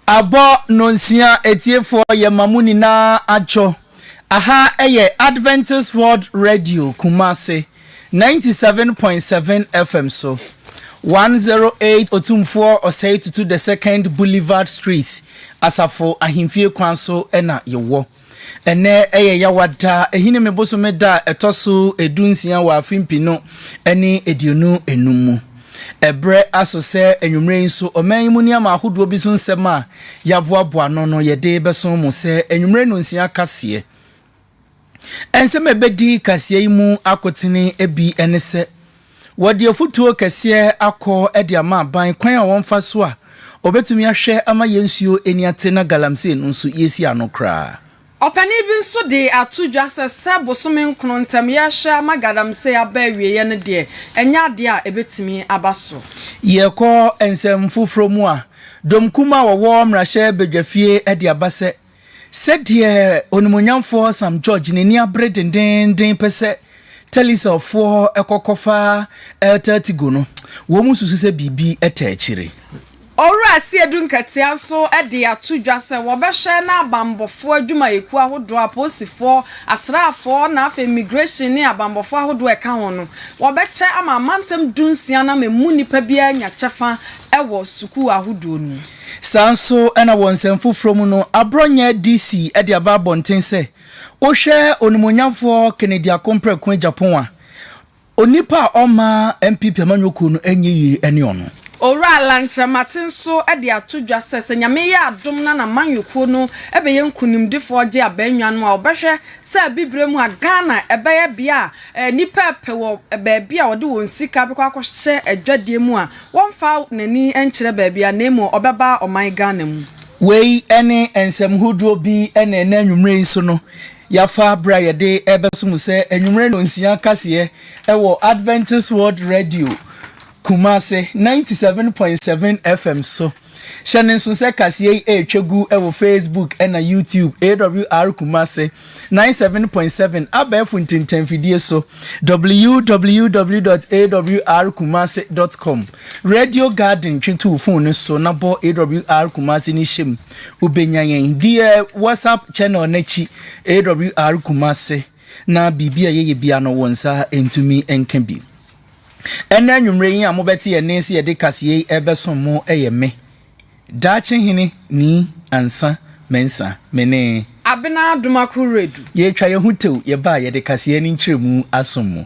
Abɔ Nnɔnsia atiefoɔ yɛma mo nyinaa adwo. Aha yɛ Adventist World Radio Kumasi 97.7 FM so, 108 Otumfoɔ Osei Tutu the Second Boulevard Street, Asafo Ahemfie kwan so na yɛwɔ. Ɛnnɛ yɛ Yawada Ahinime bosome da a ɛtɔ so dunsia wɔ afe mpenu ne aduonu nnum mu. Ɛberɛ aso sɛ anwummerɛ yi nso ɔman yi mu nneɛma ahodoɔ bi so nsɛm a yɛaboaboa ano no yɛde bɛso mo sɛ anwummerɛ nnonsia kaseɛ. Nsɛm a ɛbɛdi kaseɛ yi mu akotene bi ne sɛ. Wɔde afutuo kɛseɛ akɔ de ama aban kwan a wɔmfa so a wɔbɛtumi ahwɛ ama yɛn nsuo ani ate na galamsey no nso yɛasi ano koraa. Ɔpanin bi nso de ato dwa sɛ, sɛ bosome nkono ntam yɛrehwɛ ama galamsey aba awieeɛ no deɛ, ɛnyɛ adeɛ a ɛbɛtumi aba so. Yɛkɔ nsɛm foforɔ mu a, dɔm kumaa a wɔwɔ mmarahyɛ badwafie de aba sɛ, Sɛdeɛ onimuonyamfoɔ Sam George n'ani abere dendeenden pɛ sɛ Telicerfoɔ kɔkɔfa El Tértigo no, wɔn susu sɛ biribi taa akyire. Owura Asiedu Nketiah nso de ato dwa sɛ wɔbɛhwɛ na abanbɔfoɔ adwumayɛkuo ahodoɔ, apolisifoɔ, asraafoɔ na afei immigration ne abanbɔfoɔ ahodoɔ a ɛka ho no, wɔbɛkyɛ ama amantam dunsia nam ɛmu nnipa biara anya kyɛfa wɔ sukuu ahodoɔ no mu. Saa nso na wɔ nsɛm foforɔ mu no, aborɔnyɛ DC de aba abɔnten sɛ, Wohwɛ onimuonyamfoɔ Kennedy Akompreko Agyapong a, onipa a ɔmma NPP amanyɔkuo no nyɛ yie ne ɔno. Owura Lang Kyeremate nso de ato dwa sɛ, sɛ Nyame yɛ adom na n'amanyɔkuo no bɛyɛ nkunimdifoɔ gye abaa nnwan mu a, ɔbɛhwɛ sɛ abibire mu a Ghana bɛyɛ bea a nnipa repɛ wɔ baabi a wɔde wɔn sika bɛkɔ akɔhyɛ adwadie mu a Wɔmfa n'ani nkyerɛ baabiara na mmom ɔbɛba ɔman Ghana mu. Wei ne nsɛm hodoɔ bi na ɛnɛ anwummerɛ yi so no yɛafa berɛ a yɛde rebɛso mo sɛ anwummerɛ nnɔnsia kaseɛ wɔ Adventist World Radio Kumasi ninety seven point seven FM so. Hyɛ no nso sɛ kaseɛ yi retwa gu wɔ Facebook na YouTube, AWR Kumasi ninety seven point seven abɛɛfo ntintanfidie so, www dot awr kumasi dot com, Radio Garden twe to wo fon no so na bɔ AWR Kumasi no hyɛ mu. Wobɛnya yɛn deɛ WhatsApp channel no akyi, AWR Kumasi, na biribi a yɛyɛ bia no wo nsa ntumi nka bi. Ɛnnɛ anwummere yi a mobɛte yɛn nne se yɛde kaseɛ yi rebɛsom mo yɛ me, Daakye Hene Nii Ansah Mensah, me ne. Abena Adomako Redu. Yɛretwa yɛn ho tew yɛba a yɛde kaseɛ ne nkyerɛmu asom mo.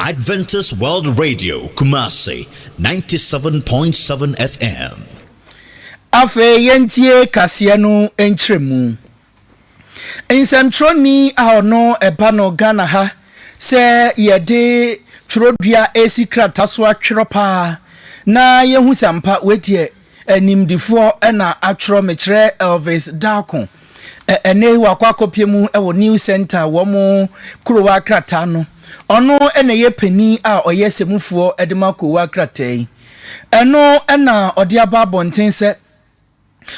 Adventist World Radio, Kumasi, 97.7 FM. Afei yɛntie kaseɛ no nkyerɛmu. Nsɛmtwerɛni a ɔno ɛba no Ghana ha sɛ yɛde twerɛdua ɛresi krata so atwerɛ paa na yɛhu sɛ ampa wei deɛ Animdefoɔ na atwerɛ mekyerɛ Elvis Darko. Ɛnnɛ yi wakɔ akɔpie mu wɔ New Centre wɔn Korowa krataa no. Ɔno na ɛyɛ panin a ɔyɛ sɛmufoɔ de ma Korowa krataa yi. Ɛno na ɔde aba abɔnten sɛ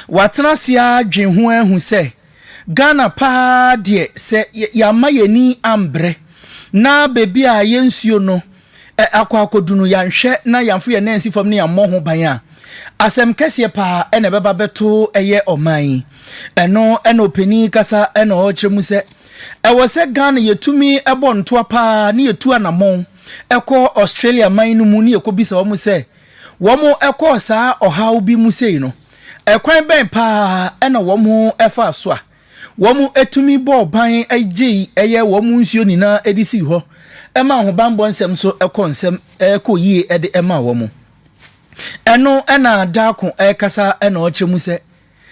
watena ase ara dwen ho ahu sɛ, Ghana paa deɛ sɛ yɛamma yɛn ani ambrɛ na baabi a yɛn nsuo no akɔ akɔdu no yɛanhwɛ na yɛanfo yɛn nan ansi fam na yɛammɔ ho ban a, asɛm kɛseɛ paa na ɛbɛba abɛto yɛ ɔman yi. Ɛno na ɔpanin yi kasa na ɔrekyerɛ mu sɛ ɛwɔ sɛ Ghana yɛtumi bɔ ntoa paa na yɛtu anamɔn kɔ Australia man no mu na yɛkɔbisa wɔn sɛ Wɔkɔɔ saa ɔhaw bi mu sei no, ɛkwan bɛn paa na wɔfaa so a wɔtumi bɔɔ ban gyei ɛyɛ wɔn nsuo nyinaa de sii hɔ maa ahobammɔ nsɛm so kɔɔ nsɛm kɔɔ yie de maa wɔn? Ɛno na Darko rekasa na ɔrekyerɛ mu sɛ,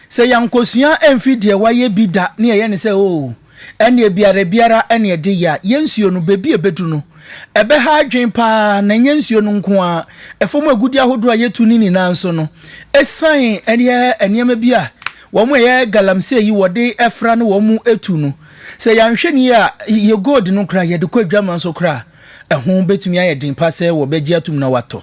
Sɛ yɛankosua amfi deɛ wayɛ bi da ne yɛyɛ no sɛ oo, ɛnneɛ biara biara ne ɛde yɛ a, yɛn nsuo no, baabi a ɛbɛdu no, ɛbɛha adwene pa ara, na ɛnyɛ nsuo no nko ara, fam agudeɛ ahodoɔ a yɛtu no nyinaa nso no, ɛsiane ɛyɛ nneɛma bi a wɔn a ɛyɛ galamsey yi wɔde fra ne wɔn tu no, sɛ yɛanhwɛ no yie a, yɛn gold no koraa, yɛde kɔ adwaman so koraa a, ɛho bɛtumi ayɛ den pa ara sɛ wɔbɛgye atom na wɔatɔ.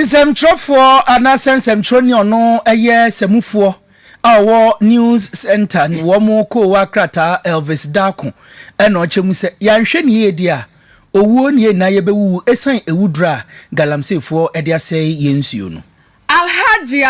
Nsɛmtwerɛfoɔ anaasɛ nsɛmtwerɛni ɔno yɛ sɛmufoɔ a ɔwɔ News Center no wɔn koowa krataa Elvis Darko na ɔkyɛ mu sɛ yɛanhwɛ ne yie deɛ a owuo ne yɛn nyinaa yɛbɛwuwu ɛsiane awuduro a galamseyfoɔ de asɛe yɛn nsuo no. Alhaji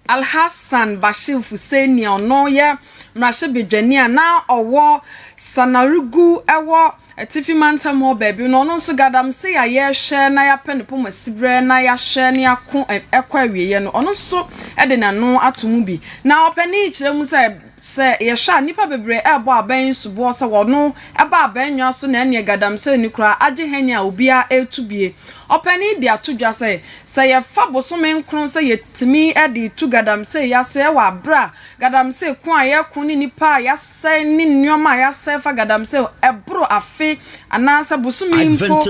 Alhassan Bashir Fuseini a ɔno yɛ mmarahyɛbadwani a na ɔwɔ Sanarigu wɔ Atifi Mantam hɔ baabi no, ɔno nso Gaadamsey a yɛrehwɛ na yɛapɛ ne poma siberɛ na yɛahwɛ na yɛako kɔ awieɛ no, ɔno nso de n'ano ato mu bi. Na ɔpanin yi kyerɛ mu sɛ, Sɛ yɛhwɛ a, nnipa bebree rebɔ abɛn soboɔ sɛ wɔno ɛba abɛn nnwa so na ɛneɛ Gadamsey no koraa agye hɛn a obiara reto bie. Ɔpanin de ato dwa sɛ, sɛ yɛfa bosome nkron sɛ yɛtumi de retu Gadamsey yi aseɛ wɔ aberɛ a Gadamsey ko a yɛreko ne nnipa a yɛasɛe ne nnoɔma a yɛasɛe fa Gadamsey ɛboro afe anaasɛ bosome mpo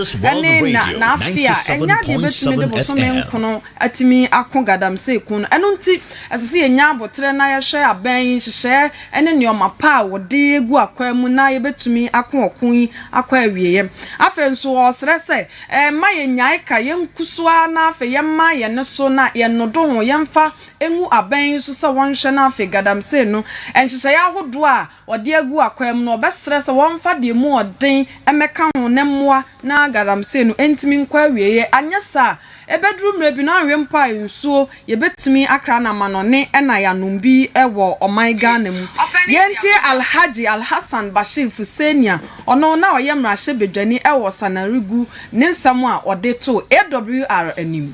ne na na afe a, ɛnyɛ adeɛ bɛtumi de bosome nkono atumi ako galamsey ko no. Ɛno nti, ɛsɛ sɛ yɛnya aboterɛ na yɛhwɛ abɛn yi nhyehyɛeɛ ne nneɛma pa a wɔde gu akwaa mu na yɛbɛtumi ako ɔko yi akɔ awieeɛ. Afei nso, ɔresrɛ sɛ, Mma yɛnnyae ka, yɛnku so ara na afei yɛmma yɛn nne so na yɛnnodo ho, yɛmfa ngu abɛn yi so sɛ wɔnhwɛ na afei galamsey no nhyehyɛeɛ ahodoɔ a ɔde agu akwan mu no, ɔbɛsrɛ sɛ wɔmfa deɛ mu ɔden mmɛka ho ne mmoa na galamsey no ntumi nkɔ awieeɛ. Anyɛ saa a, ɛbɛduru mmerɛ bi na anwe mpo a nsuo yɛbɛtumi akra no amanɔne na yɛanom bi wɔ ɔman Ghana mu. Yei nti Alhadji Alhassan Bashir Fuseni a ɔno na ɔyɛ mmarahyɛbadwani wɔ Sananrigu ne nsɛm a ɔde too AWR anim.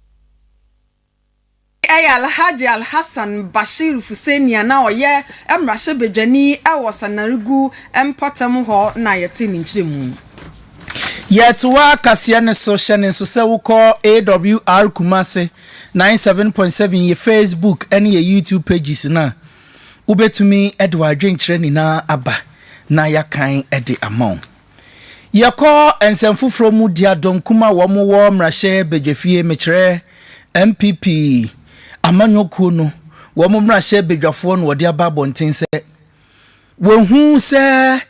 Ɛyɛ Alhaji Alhassan Bashir Fuseni a na ɔyɛ mmarahyɛbadwani wɔ Sanarigu mpɔtam hɔ na yɛtee ne nkyerɛmu yi. Yɛtoa kaseɛ no so, hyɛ no nso sɛ wokɔ AWR Kumasi ninety seven point seven yɛ Facebook ne yɛ YouTube pages no a, wobɛtumi de w'adwenkyerɛ nyinaa aba na yɛakan de ama wo. Yɛkɔ nsɛm foforɔ mu dea dɔnkum a wɔn wɔ mmrahyɛ badwafie mekyerɛ NPP amanyɔ kuo no wɔn mmrahyɛ badwafoɔ na wɔde aba abɔnten sɛ wɔhu sɛ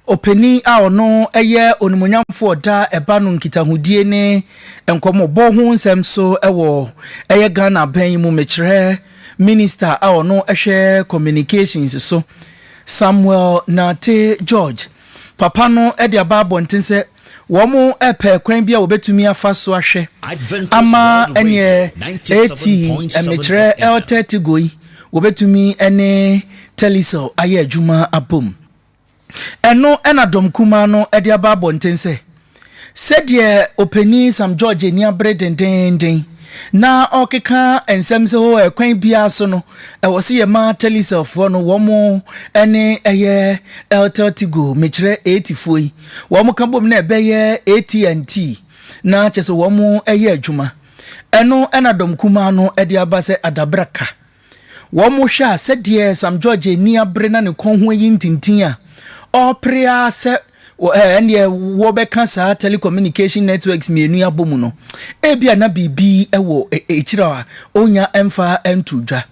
ɔpanin a ɔno yɛ onimuonyamfoɔ ɔda ɛba no nkitahodie ne nkɔmɔbɔ ho nsɛm so wɔ ɛyɛ Ghana abɛn yi mu mekyerɛ minista a ɔno hwɛ communications so Samuel Nartey George papa no de aba abɔnten sɛ wɔrepɛ kwan bi a wɔbetumi afa so ahwɛ ama ɛnneɛ eti mmekyerɛ El Tértigo yi wɔbetumi ne Telecel ayɛ adwuma abom. Ɛno na Dɔm Kumaa no de aba abɔnten sɛ. Sɛdeɛ Ɔpanin Sam George ani abere dendeenden na ɔrekeka nsɛm sɛ hoo ɛkwan biara so no, ɛwɔ sɛ yɛma Telecel-foɔ no wɔn ɛnne yɛ Airtel-Tigo, mekyerɛ Etifoɔ yi, wɔn ka bom na ɛbɛyɛ AT&T, na kyerɛ sɛ wɔn yɛ adwuma. Ɛno na Dɔm Kumaa no de aba sɛ adabraka. Wɔhwɛ a, sɛdeɛ Sam George ani abere na ne kɔn ho ayi ntintin a, ɔrepere ara sɛ ɛnneɛ wɔbɛka saa telecommunication networks mmienu yi abɔ mu no, ebia na biribi wɔ akyire a ɔnnya mfa nto dwa.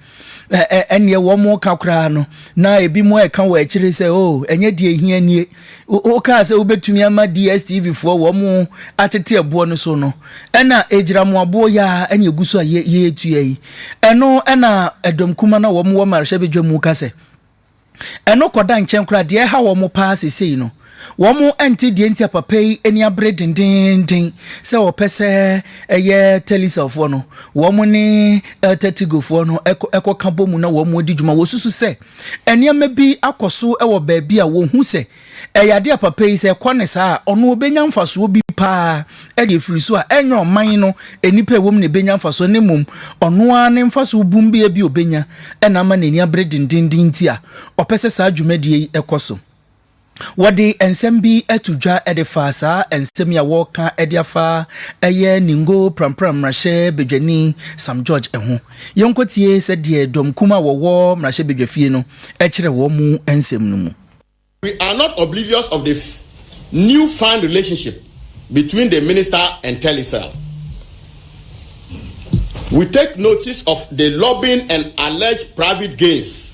Ɛnneɛ wɔreka koraa no, na ebinom reka wɔ akyire sɛ, oh, ɛnyɛ deɛ ɛhia nie, Wokaa sɛ wobɛtumi ama DSTV foɔ wɔn atete ɛboɔ no so no ɛna ɛgyiramu aboɔ yaa ɛne ɛgu so a yɛtua yi ɛno ɛna ɛdɔm kuma na wɔn wɔ marhyɛ bɛdwa mu ka sɛ ɛno kɔda nkyɛn koraa deɛ ɛha wɔn paa sesei no wɔn ɛnte deɛ nti a papa yi ani abere dendenden sɛ wɔpɛ sɛ ɛyɛ telecell foɔ no wɔn ne ɛtɛ tigo foɔ no ɛkɔ ka bɔ mu na wɔn adi dwuma wɔsusu sɛ Nneɛma bi akɔ so wɔ baabi a wɔhu sɛ ɛyɛ ade a papa yi sɛ ɛkɔ ne saa a, ɔno ɔbɛnya mfasoɔ bi paa de afiri so a ɛnyɛ ɔman no nnipa a ɛwɔ mu na ɛbɛnya mfasoɔ na mmom ɔno ara ne mfasoɔ bumbea bi a ɔbɛnya na ama n'ani abere dendeenden nti a ɔpɛ sɛ saa dwumadie yi kɔ so. Wɔde nsɛm bi to dwa de fa saa nsɛm yi a wɔreka de afa ɛyɛ Ningo Prampram mmarahyɛbadwani Sam George ho. Yɛnkɔtie sɛdeɛ dɔm kumaa a wɔwɔ mmarahyɛbadwafie no kyerɛ wɔn nsɛm no mu. We are not oblivious of the new found relationship between the minister and Telecel. We take notice of the lobbying and alleged private gains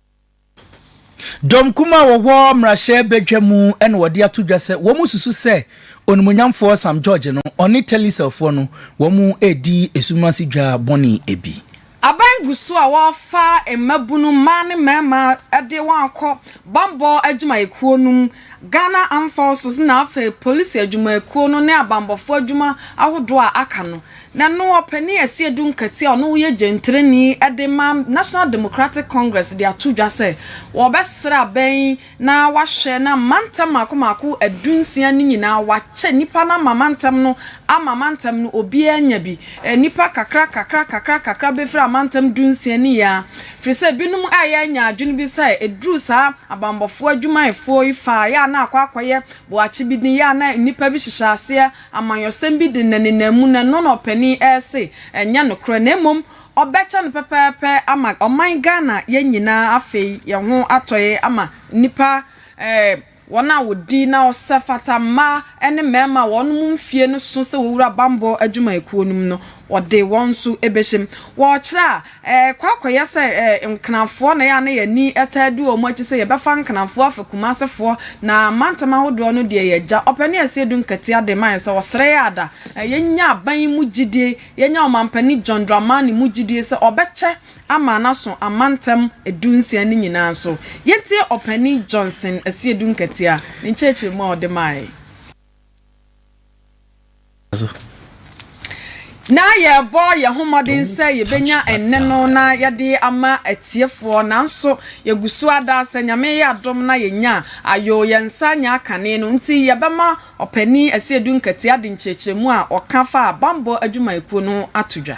Dɔm kumaa a wɔwɔ mmarahyɛbadwa mu na wɔde ato dwa sɛ wɔsusu sɛ onimonyamfoɔ Sam George no, ɔne Telecellfoɔ no, wɔredi esum ase dwa bɔne bi. Aban gu so a wɔrefa mmabunu, mmaa ne mmarima de wɔn akɔ bammɔ adwumayɛkuo no mu, Ghana Armed Forces na afei Polisi adwumayɛkuo no ne abanbɔfoɔ adwuma ahodoɔ a aka no. Na no ɔpanin Asie Dunkati a ɔno woyɛ gyentreni de ma National Democratic Congress de ato dwa sɛ wɔbɛsra abɛn na wahwɛ na mantam mako mako adu nsia no nyinaa wakyɛ nnipa no ama mantam no ama mantam no obiara anya bi nnipa kakra kakra kakra kakra befira mantam du nsia no yia firi sɛ binom ayɛ anya adwene bi sɛ ɛduru saa abanbɔfoɔ adwumayɛfoɔ yi faa yɛ a na akɔ akɔyɛ boakye bi ne yɛ a na nnipa bi hyehyɛ aseɛ Amanyɔsɛm bi de nnanennan mu na no na ɔpanin rese ɛnyɛ nokorɛ na mmom ɔbɛkyɛ no pɛpɛɛpɛ ama ɔman Ghana yɛn nyinaa afei yɛn ho atɔe ama nnipa eh wɔn a wɔdi na ɔsɛ fata mmaa ne mmarima a wɔn mfie no so sɛ wɔwura bammɔ adwumayɛkuo no mu no wɔde wɔn nso bɛhyɛm wɔrekyerɛ a Ɛkɔ akɔyɛ sɛ Nkenafoɔ na ɛyɛ a na yɛn ani taa di wɔn akyi sɛ yɛbɛfa Nkenafoɔ afɛ Kumasefoɔ na mantam ahodoɔ no deɛ yɛn agya ɔpɛ ne Asie Adu Nketiah de ma yɛn sɛ ɔsrɛ yɛn ada na yɛnya aban yi mu gyidie, yɛnya Ɔmampanin John Dramani mu gyidie sɛ ɔbɛkyɛ ama no aso amantam du nsia no nyinaa so. Yɛntie Ɔpanin Johnson Asie Adu Nketiah ne nkyerɛkyerɛmu a ɔde maeɛ. Ná yɛrebɔ yɛn ho mmɔden sɛ yebenya ɛnne no na yɛde ama atiefoɔ, nanso yɛgu so ara daa. Sɛ Nyame yɛ adom na yɛnya a, ayoo, yɛn nsa nyɛ akane. Ɛno nti, yɛbɛma Ɔpanyin Asiedu Nketiah de nkyerɛkyerɛmu a ɔka faa bammɔ adwumayɛkuo no ho ato dwa.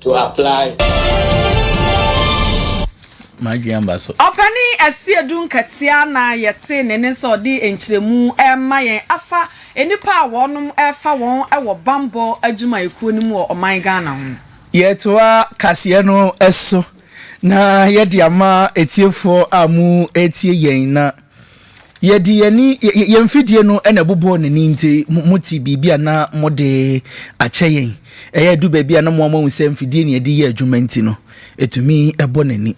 To apply. M'adwene aba so. Ɔpanin Asiedu Nketiah na yɛte ne nne sɛ ɔde nkyerɛmu rema yɛn afa nnipa a wɔnom refa wɔn wɔ bammɔ adwumayɛkuo no mu wɔ ɔman Ghana ho. Yɛtoa kaseɛ no so na yɛde ama atiefoɔ a mo retie yɛn na Yɛde yɛn ani, yɛn mfidie no na ɛbobɔɔ n'ani nti mote biribi a na mode akyɛ yɛn. Ɛyɛ ɛdu baabi a na mo ara moahu sɛ mfidie na yɛde yɛ adwuma nti no, ɛtumi bɔ n'ani.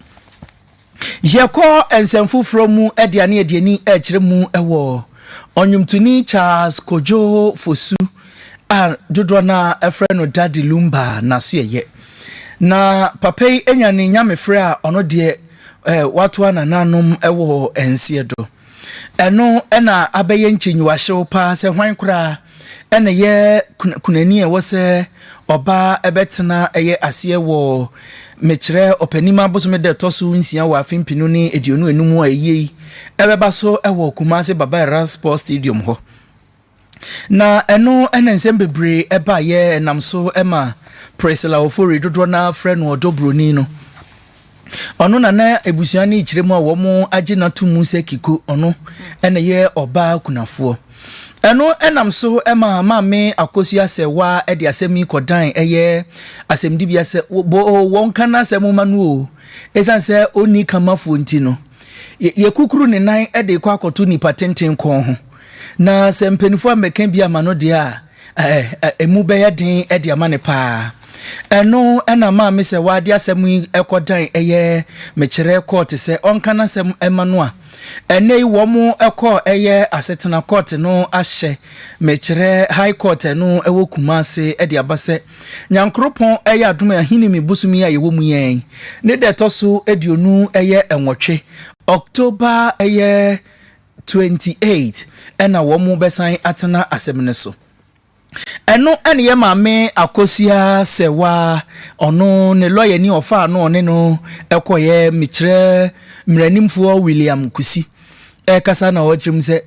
Yɛkɔ nsɛm foforɔ mu de a na yɛde ani rekyerɛ mu wɔ ɔnwomtoni Charles Kojo Fosu a dodoɔ no ara ɛfrɛ no Daddy Lumba n'asoɛyɛ. Na papa yi anya ne nyamefrɛ a ɔno deɛ eh, watoa nananom wɔ nseɛ do. Ɛno na abɛyɛ nkyenyiwahyew paa sɛ hwan koraa ɛna yɛ kunani a ɛwɔ sɛ ɔbaa ɛbɛtena ɛyɛ aseɛ wɔ mekyerɛ ɔpanim abosome da ɛtɔ so nsia wɔ afe mpenu ne aduonu enum a ɛyɛ yi ɛbɛba so ɛwɔ Kumasi Baba Era Sports Stadium hɔ. Na ɛno na nsɛm bebree baeɛ nam so ma Priscilla Ofori, dodoɔ no ara frɛ no ɔdɔ buroni no. Ɔno na na abusua no rekyerɛ mu a wɔagye no ato mu sɛ Kiko, ɔno na ɛyɛ ɔbaa kunafoɔ. Ɛno nam so ma Maame Akosua Asɛwaa de asɛm yi kɔdan ɛyɛ asɛmdibea sɛ boo wɔnka n'asɛm mma no oo, ɛsiane sɛ ɔnni kamafoɔ nti no, yɛkukuru ne nan de rekɔ akɔto nnipa tenten kɔn ho. Na sɛ mpaninfoɔ ammɛka bi ama no deɛ a, ɛ-ɛ-ɛ emu bɛyɛ den de ama no paa. Ɛno na maa me sɛ waa de asɛm yi kɔ dan ɛyɛ mekyerɛ kɔɔte sɛ ɔnka n'asɛm ma no a. Ɛnnɛ yi wɔn kɔ ɛyɛ asetena kɔɔte no ahyɛ mekyerɛ High Court a ɛno ɛwɔ Kumase de aba sɛ Nyankoropɔn ɛyɛ adom Ahinime bosom yi a yɛwɔ mu yi ɛn ne da ɛtɔ so aduonu ɛyɛ nwɔtwe October ɛyɛ twenty eight na wɔn bɛsan atena asɛm no so. Ɛno na yɛ maame akosua sɛwa ɔno ne lɔya ni ɔfaa no ɔne no kɔyɛ mekyerɛ mmaranimfoɔ William Kusi ɛkasa na ɔkyerɛ mu sɛ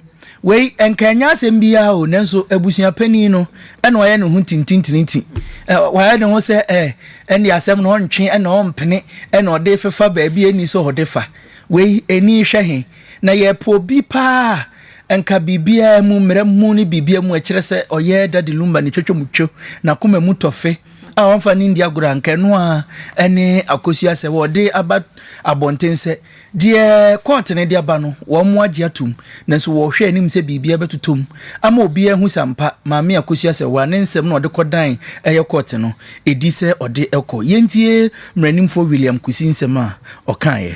wei nka ɛnyɛ asɛm biara o nanso abusua panin no ɛna wayɛ ne ho tintintiniti wayɛ ne ho sɛ ɛ ɛne asɛm no ɔntwe ɛna ɔmpene ɛna ɔde fefa baabi ɛni sɛ ɔde fa wei ɛni hwɛ he Na yɛpɛ obi paa a nka biribiara mu, mmara mu ne biribiara mu ɛkyerɛ sɛ ɔyɛ Daddy Lumba ne twatwa mu two, n'akoma mu tɔfe a ɔmfa ne ndi agorɔ a nka ɛno ara ne Akosua sɛ wɔde aba abɔnten sɛ deɛ kɔɔte no de aba no wɔagye atom nanso wɔrehwɛ anim sɛ biribiara bɛtotɔ mu ama obiara ahu sɛ ampa Maame Akosua Sewaa ne nsɛm na ɔde kɔdan ɛyɛ kɔɔte no ɛdi sɛ ɔde kɔ. Yɛntie Mmaranimfoɔ William Kusi nsɛm a ɔkaeɛ.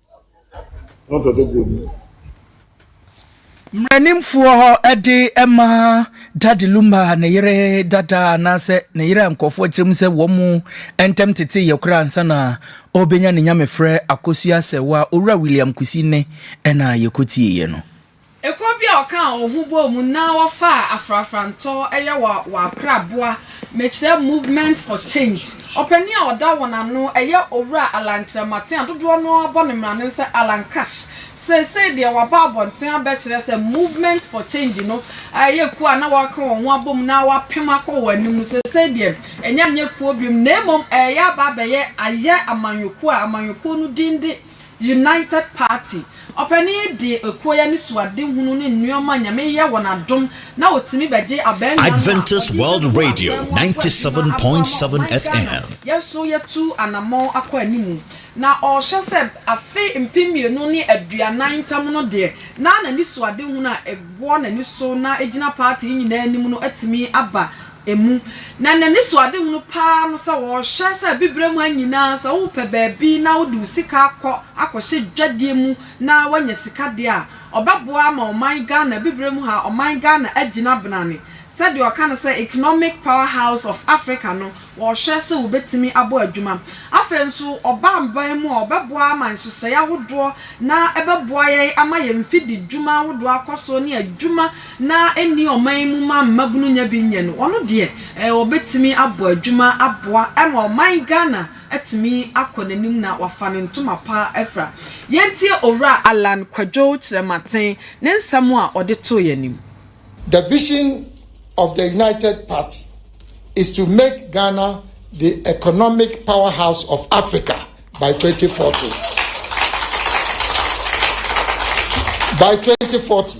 Mmaranimfoɔ hɔ de ma Daddy Lumba ne yere dada anaasɛ ne yere a nkurɔfoɔ kyerɛ mu sɛ wɔn ntam teteeɛ koraa ansa na ɔrebɛnya ne nyamefrɛ akosua asɛewa Owura William Kwesi nne na yɛkɔtieeɛ no. Ekuo bi a wɔkaa wɔn ho bɔɔ mu na wɔfaa afrafrantɔ yɛ wɔ Akraboa Mekyerɛ Movement for Change. Ɔpanin a ɔda wɔn ano yɛ Owura Allan Kyerɛmaten a dodoɔ no ara bɔ ne mmara no sɛ Allan Cash. Seesei deɛ wɔaba abɔnten abɛkyerɛ sɛ Movement for Change no yɛ kuo a na wɔaka wɔn ho abɔ mu na wɔapem akɔ wɔn anim no, seesei deɛ ɛnyɛ anyɛ kuo bio na mmom ɛreyɛ aba abɛyɛ ayɛ amanyɔkuo a amanyɔkuo no din de United Party. Ɔpanin yi de ekuo yi anisoadehunu ne nnoɔma a Nyame yɛ wɔn adom na wɔtumi bɛgye abaamua no a ɔde rebɛtu adeɛ wɔ aboa yi ho a ɔde bɛma ɔman Ghana. Yɛn nso yɛtu anamɔn akɔ anim na ɔrehwɛ sɛ afe mpem mmienu ne aduanan ntam no deɛ na n'anisoadehunu a ɛwɔ n'ani so na ɛgyina party yi nyinaa anim no atumi aba mu, na n'anisoadehunu paa no sɛ ɔrehyɛ sɛ abibirem ha nyinaa sɛ wopɛ baabi na wode wo sika akɔ akɔhyɛ dwadeɛ mu na woanya sika deɛ a, ɔbɛboa ama ɔman Ghana, abibirem ha ɔman Ghana agyina benane sɛdeɛ ɔka no sɛ economic power house of Africa no wɔrehwɛ sɛ wɔbɛtumi abɔ adwuma. Afei nso ɔba aban mu a ɔbɛboa ama nhyehyɛeɛ ahodoɔ na ɛbɛboa yɛn ama yɛn mfididwuma ahodoɔ akɔ so ne adwuma na ɛnni ɔman mu ma mmabunu nya bi nyɛ no, ɔno deɛ ɔbɛtumi abɔ adwuma aboa ma ɔman Ghana atumi akɔ n'anim na wafa ne ntoma pa afira. Yɛntie Owura Allan Kwadwo Kyerɛmaten ne nsɛm a ɔde too yɛn anim. The vision of the United Party is to make Ghana the economic powerhouse of Africa by 2040. By 2040.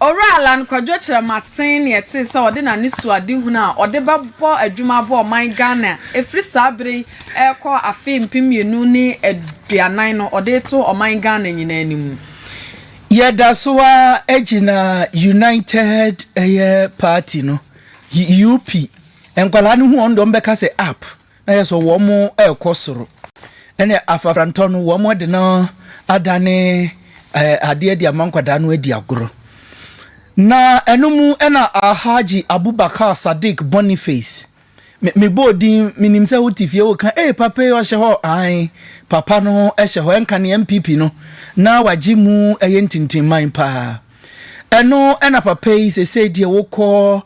Owura Allan Kwadwo kyerɛ maten nea ɛte sɛ ɔde n'anesuadehunu a ɔde bɛbɔ adwuma abɔ ɔman Ghana ɛfiri saa berɛ yi rekɔ afe mpem mmienu ne aduanan no ɔde reto ɔman Ghana nyinaa anim no. Yɛda so ara gyina United ɛyɛ party no, UP, nkwadaa no hu wɔn deɛ wɔbɛka sɛ app, Na yɛ sɛ wɔn rekɔ soro. Ɛne afafrantɔ no wɔn de no adane ɛɛ adeɛ de ama nkwadaa no adi agorɔ. Na ɛno mu ɛna Alhaji Abubakar Sadiq Boniface me me bɔɔ din me nim sɛ wote fie woka ee papa yi ɔhyɛ hɔ ae papa no hyɛ hɔ ɛnka ne NPP no na wagye mu ɛyɛ ntintinman paa. Ɛno na papa yi sesei deɛ wokɔ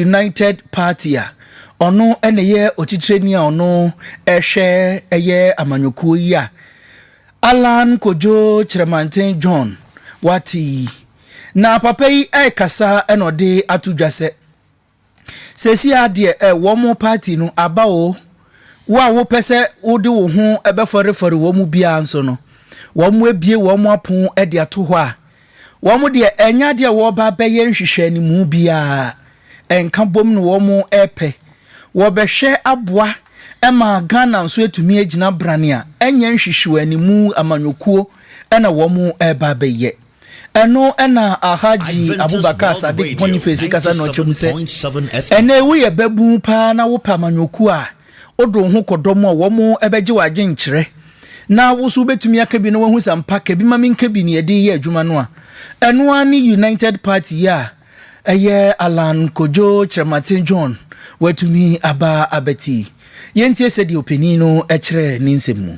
United party a ɔno na ɛyɛ otitrani a ɔno ɛhwɛ ɛyɛ amanyɔkuo yi a Allan Kojo Kyerɛmanten John wate yi. Na papa yi ɛkasa na ɔde ato dwa sɛ. Seesei ara deɛ ɛ, wɔn party no aba o, wo a wopɛ sɛ wode wo ho bɛfɔrefɔre wɔn mu biara nso no, wɔabue wɔn apono de ato hɔ a, wɔn deɛ ɛnyɛ adeɛ a wɔreba abɛyɛ nhwehwɛanimu biara, ɛnka bom na wɔrepɛ. Wɔbɛhwɛ aboa ma Ghana nso atumi agyina brane a ɛnyɛ nhwehwɛanimu amanyɔkuo na wɔreba abɛyɛ. Ɛno na Alhaji Abubakar Sadiq Boniface kasa na ɔkyɛ mu sɛ, Ɛnnɛ yi woyɛ babun paa na wopɛ amanyɔkuo a, wode wo ho kɔdɔ mu a, wɔn bɛgye w'adwenkyerɛ. Na wo nso wobɛtumi aka bi na woahu sɛ ampa ka bi ma menka bi nea ɛde reyɛ adwuma no a. Ɛno ara ne United Party yi a ɛyɛ Allan Kojo Kyerematen John watumi aba abɛte yi. Yɛntie sɛdeɛ ɔpanin no kyerɛ ne nsɛm mu.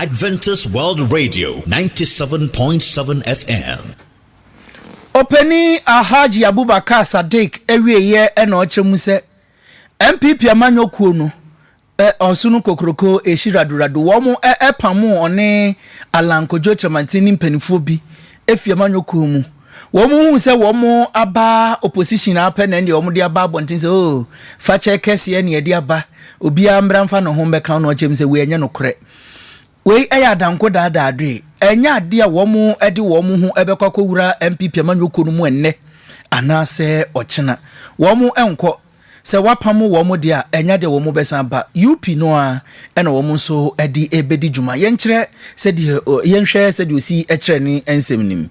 Adventist World Radio, 97.7 FM. Ɔpanin Alhaji Abubakar Sadiq awieɛ na ɔkyɛ mu sɛ NPP amanyɔ kuo no ɛ ɔso no kokroko ɛhyi radorado wɔn ɛ ɛpamoo ɔne Allan Kojo Kyerɛmanten ne mpaninfoɔ bi ɛfiri amanyɔ kuo mu Wɔn huu sɛ wɔn aba opposition ara pɛ na ɛndeɛ wɔn de aba abɔnten sɛ oh fakyɛ kɛseɛ na yɛde aba obiara mbra mfa ne ho mbɛka na ɔkyɛm sɛ wei ɛnyɛ nokorɛ wei ɛyɛ adanko daadaa adoe ɛnyɛ adeɛ a wɔn ɛde wɔn ho ɛbɛkɔ akɔwura NPP amanyɔkuo no mu ɛnnɛ anaasɛ ɔkyena wɔn ɛnkɔ sɛ wapam wɔn deɛ a ɛnyɛ adeɛ wɔn bɛsan ba UP no a ɛna wɔn nso ɛde ɛbɛdi dwuma yɛnkyerɛ sɛdeɛ yɛnhwɛ sɛdeɛ osi ɛkyerɛ ne nsɛm nim.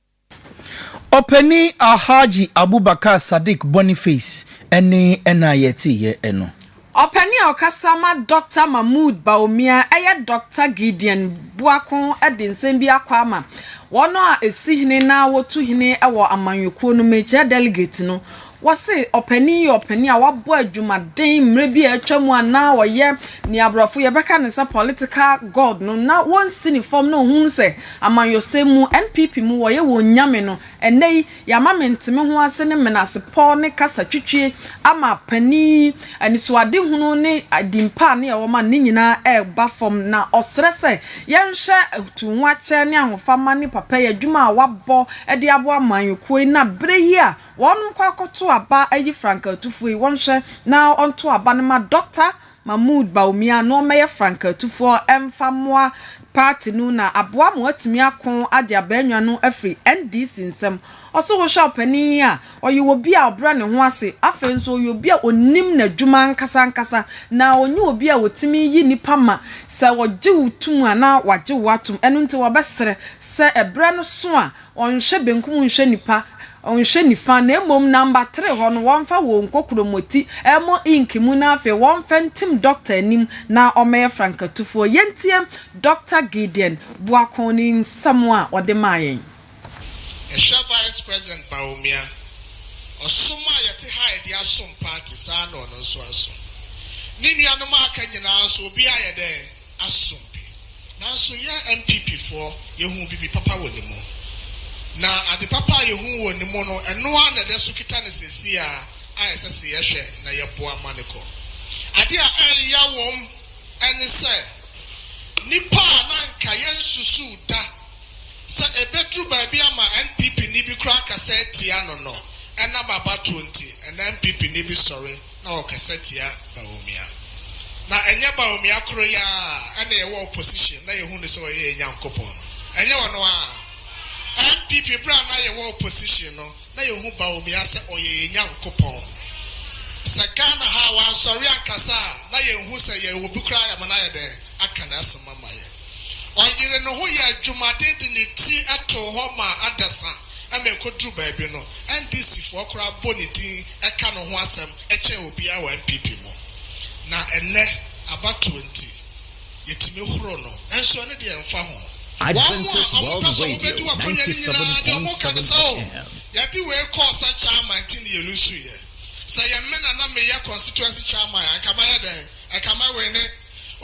Ɔpanin Alhaji Abubakar Sadiq Boniface ne ɛna a yɛteeɛ no. Ɔpanin a ɔkasa ma Dɔkta Mahmood Bawumia ɛyɛ Dɔkta Gideon Boako de nsɛm bi akɔ ama wɔn a ɛsi hene na wɔtu hene wɔ amanyɔkuo no mu, ɛkyerɛ delegate no. Wɔse ɔpanin yɛ ɔpanin a wabɔ adwumaden mmerɛ bi a atwa mu a na ɔyɛ nea aborɔfo yɛbɛka no sɛ political god no na wɔnsi ne fam na ɔhunu sɛ amanyɔsɛm mu, NPP mu, wɔyɛ wɔn nyame no. Ɛnnɛ yi, yɛama mentemeho ase ne menasepɔ ne kasa twitwie ama panin yi, anisoadehunu ne din pa a ne ɛwɔ ma no ne nyinaa ɛreba fam na ɔsrɛ sɛ yɛnhwɛ tuuhoakyɛ ne ahofama ne papayɛ adwuma a wabɔ de aboa amanyɔkuo yi na berɛ yi a Wɔn nkɔ akɔto aba ayi frankaatufoɔ yi, wɔnhwɛ na wɔnto aba no ma Dɔkta Mahmoud Bawumia na ɔmmɛyɛ frankaatufoɔ mfa mmoa party no na aboa ma wɔatumi ako agye Abannwa no afiri NDC nsam. Ɔse wohwɛ ɔpanin yi a, ɔyɛ obi a ɔbrɛ ne ho ase, afei nso ɔyɛ obi a ɔnim n'adwuma ankasa ankasa na ɔnyɛ obi a ɔtumi yi nnipa ma sɛ ɔgye wo tom a na wagye wo atom, ɛno nti wɔbɛsrɛ sɛ ɛberɛ no so a Wɔnhwɛ benkum wɔnhwɛ nipa, wɔnhwɛ nifa, na mmom namba three hɔ no wɔmfa wɔn nkɔ kuromoti ɛmɔ ink mu na afei wɔmfa ntim dɔkta anim na ɔmmɛyɛ frankatufoɔ. Yɛntie Dɔkta Gideon Boakong ne nsɛm a ɔde maa yɛn. Yɛhwɛ Vice President Bawumia, ɔsom a yɛte ha a yɛde asom party, saa ara na ɔno nso asom. Ne nuanom a aka nyinaa nso, obiara ayɛ dɛn? asom bi. Nanso yɛn NPP foɔ, yɛhuu bibi papa wɔ ne mu. Na ade papa a yɛhuu wɔ ne mu no, ɛno ara na ɛda so kita no seesei ara a ɛsɛ se yɛhwɛ na yɛboa ma no kɔ. Adeɛ a ɛreya wɔn ne sɛ, nnipa a na anka yɛnsusuu da sɛ ɛbɛduru baabi ama NPP-ni bi koraa akasa atia no no, ɛnam abatoɔ nti, ɛnna NPP-ni bi sɔre na ɔkasa tia Bawumia. Na ɛnyɛ Bawumia koro yi ara a na yɛwɔ opposition na yɛhu no sɛ ɔyɛ yɛn Nyankopɔn no. Ɛnyɛ ɔno ara. NPP berɛ a na yɛwɔ opposition no, na yɛhu Bawumia sɛ ɔyɛ yɛn Nyankopɔn. Sɛ Ghana ha a wansɔre ankasa a, na yɛnhu sɛ yɛwɔ obi koraa a yɛama no ayɛ dɛn? Aka n'asɛm ama yɛn. Ɔyeree ne ho yɛɛ adwumaden de ne ti too hɔ maa adasa ma ɛkɔduruu baabi no, NDCfoɔ koraa bɔ ne din ka ne ho asɛm kyɛn obiara wɔ NPP mu. Na ɛnnɛ, abatoɔ nti, yɛtumi horo no. Nanso ɛno deɛ ɛmfa ho. Wɔn a wɔpɛ sɛ wɔbɛdi w'akonnwa no nyinaa, deɛ wɔka ne sɛ, Oh, yɛde wei kɔɔ sɛ chairman nti na yɛlusuiɛ. Sɛ yɛ me na na me yɛ constituency chairman a nka mɛyɛ dɛn? Ɛka mɛ wene.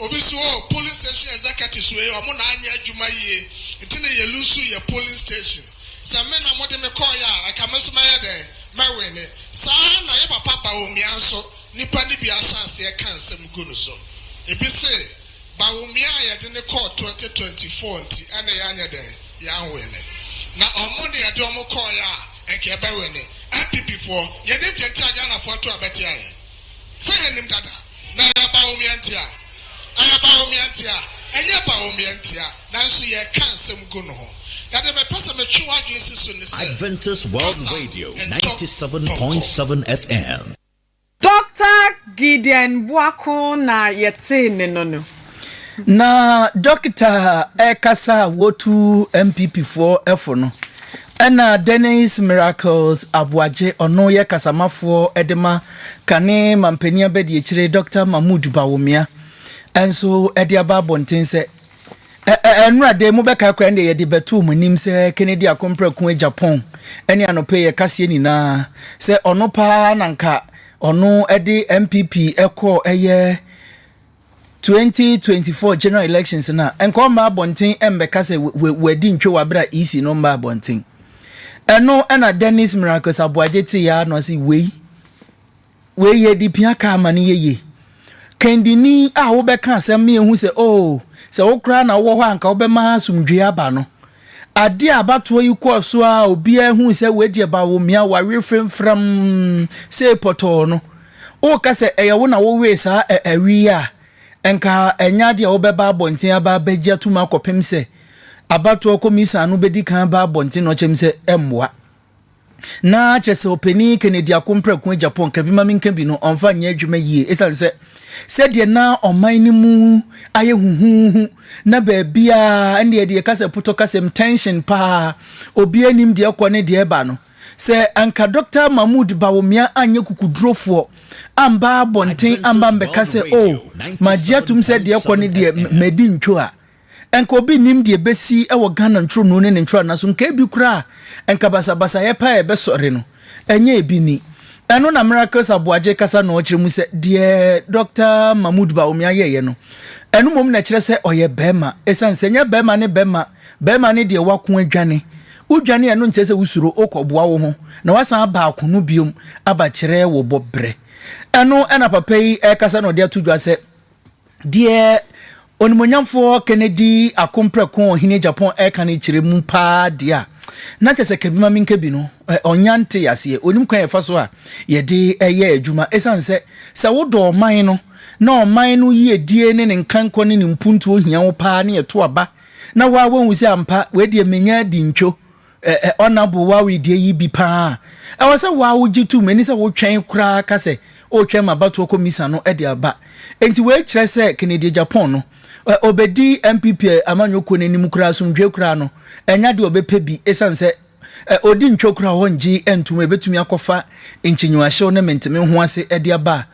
Obi so oh polling station executives wei ɔmo na anyɛ adwuma yie nti na yɛ loose yɛ polling station. Sɛ me na mo de me kɔɔ yɛ a nka me nso mɛyɛ dɛn? Mɛ wene. Saa ara na yɛ papa Bawumia nso nipa no bi ahyɛ aseɛ ka nsɛm gu no so. Ebi se. Bawumia a yɛde no kɔɔ twenty twenty four nti ɛna yɛanyɛ dɛn? Yɛanwene. Na ɔmo na yɛde ɔmo kɔɔeɛ a anka yɛbɛwene. NPP foɔ, yɛn agya nti a Ghana foɔ to abɛtea yɛn. Sɛ yɛnim dada. Na ɛyɛ Bawumia nti a. Ɛyɛ Bawumia nti a. Ɛnyɛ Bawumia nti a. Nanso yɛreka nsɛm gu no ho. Na deɛ mepɛ sɛ metwe w'adwene si so ne sɛ, Adventist World Kasa Radio ntɔ ninety seven pɔnkɔ. point seven FM. Dɔkta Gideon Boako na yɛtee ne no no. Na Dɔkta ɛrekasa a wɔtu NPP foɔ fo no, ɛna Dennis Miracles Aboagye, ɔno yɛ kasamafoɔ de ma kane manpanin abadiakyire Dɔkta Mahmood Bawumia nso de aba abɔnten sɛ Ɛnnora de, mobɛkae koraa nea yɛde bɛtoo mo anim sɛ Kennedy ako mprako agya pɔn ne anɔpa yi yɛ kaseɛ nyinaa sɛ ɔno paa na nka ɔno de NPP kɔɔ ɛyɛ 2024 general elections no a, nka ɔmma abɔnten mmɛka sɛ wadi ntwe wɔ abere a EC no mma abɔnten. Ɛno ɛna Dennis Miracles Aboagye tee ya na ɔse wei Wei yɛ de pia kaa ma no yɛye. Kandini a wobɛka asɛm ne yɛhu sɛ oh sɛ wo koraa na wowɔ hɔ anka wobɛma asomdwee aba no. Adeɛ a abatoɔ yi kɔɔ so a obiara hui sɛ wei deɛ bawomia wawe fremfram sei pɔtɔɔ no. Woka sɛ ɛyɛ wo na wowee saa ɛ awi yi a nka ɛnyɛ adeɛ a wobɛba abɔnten aba abɛgye atum akɔpem sɛ abatoɔ kɔmisan no bɛdi kan aba abɔnten na ɔkyɛm sɛ ɛmmoa. na kyerɛ sɛ ɔpanin Kennedy Akomprako agya pɔn ka bi ma menka bi no ɔmfa nyɛ adwuma yie ɛsiane sɛ sɛdeɛ na ɔman no mu ayɛ huhuuhu na baabiaa ɛndeɛ deɛ kasɛ potɔ kasɛm tension paa obi anim deɛ ɛkɔ ne deɛ ɛba no sɛ anka Dr. Mahmood Bawumia anyɛ kukudurofoɔ amba abɔnten amba mbɛka sɛ o oh, magye atom sɛ deɛ ɛkɔ ne deɛ madi ntwo a nka obi nnim deɛ ɛbɛsi wɔ Ghana ntwonoo ne ne ntwonana so, nka ebi koraa a, nka basabasayɛ paa a ɛbɛsɔre no, ɛnyɛ ebi ni. Ɛno na Miracles Aboagye kasa no ɔkyerɛ mu sɛ, deɛ Dɔkta Mahmood Bawumia yɛeɛ no, ɛno mmom na ɛkyerɛ sɛ ɔyɛ barima, ɛsiane sɛ ɛnyɛ barima ne barima, barima ne deɛ wako adwane. Wodwane a, ɛno nkyerɛ sɛ wosuro, wokɔboa wo ho, na woasan aba ako no biom aba kyerɛ wo bɔberɛ. Ɛno na papa yi rekasa na ɔde ato dwa sɛ, Deɛ Onimuonyamfoɔ Kennedy Akompreko Ɔhene Japan reka no kyerɛ mu paa deɛ a, na kyerɛ sɛ Kabi ma menka bi no, ɔnnya ntee aseɛ. Ɔnim kwan a yɛfa so a yɛde yɛ adwuma. Ɛsiane sɛ, sɛ wodɔ ɔman no, na ɔman no yiedie ne ne nkankɔ ne ne mpuntuo hia wo paa ne ɛto aba, na wo ara woahu sɛ ampa, wei deɛ menya adi ntwo, Ɛ ɛ Honourable wo a woyɛ deɛ yi bi paa a, ɛwɔ sɛ wo a wogye tom ɛne sɛ wotwɛn koraa ka sɛ woretwɛn ma abatoɔ kɔmisa no de aba. Enti wei kyerɛ sɛ Kennedy Agyapong no, ɛ ɔbɛdi NPP amanyɔ kuo no anim koraa asomdwoeɛ koraa no, ɛnyɛ adeɛ a ɔbɛpɛ bi ɛsiane sɛ ɛ ɔdi ntwo koraa a ɔnngye ntom a ɛbɛtumi akɔfa nkyinyewahyɛw ne menteme ho ase de aba a.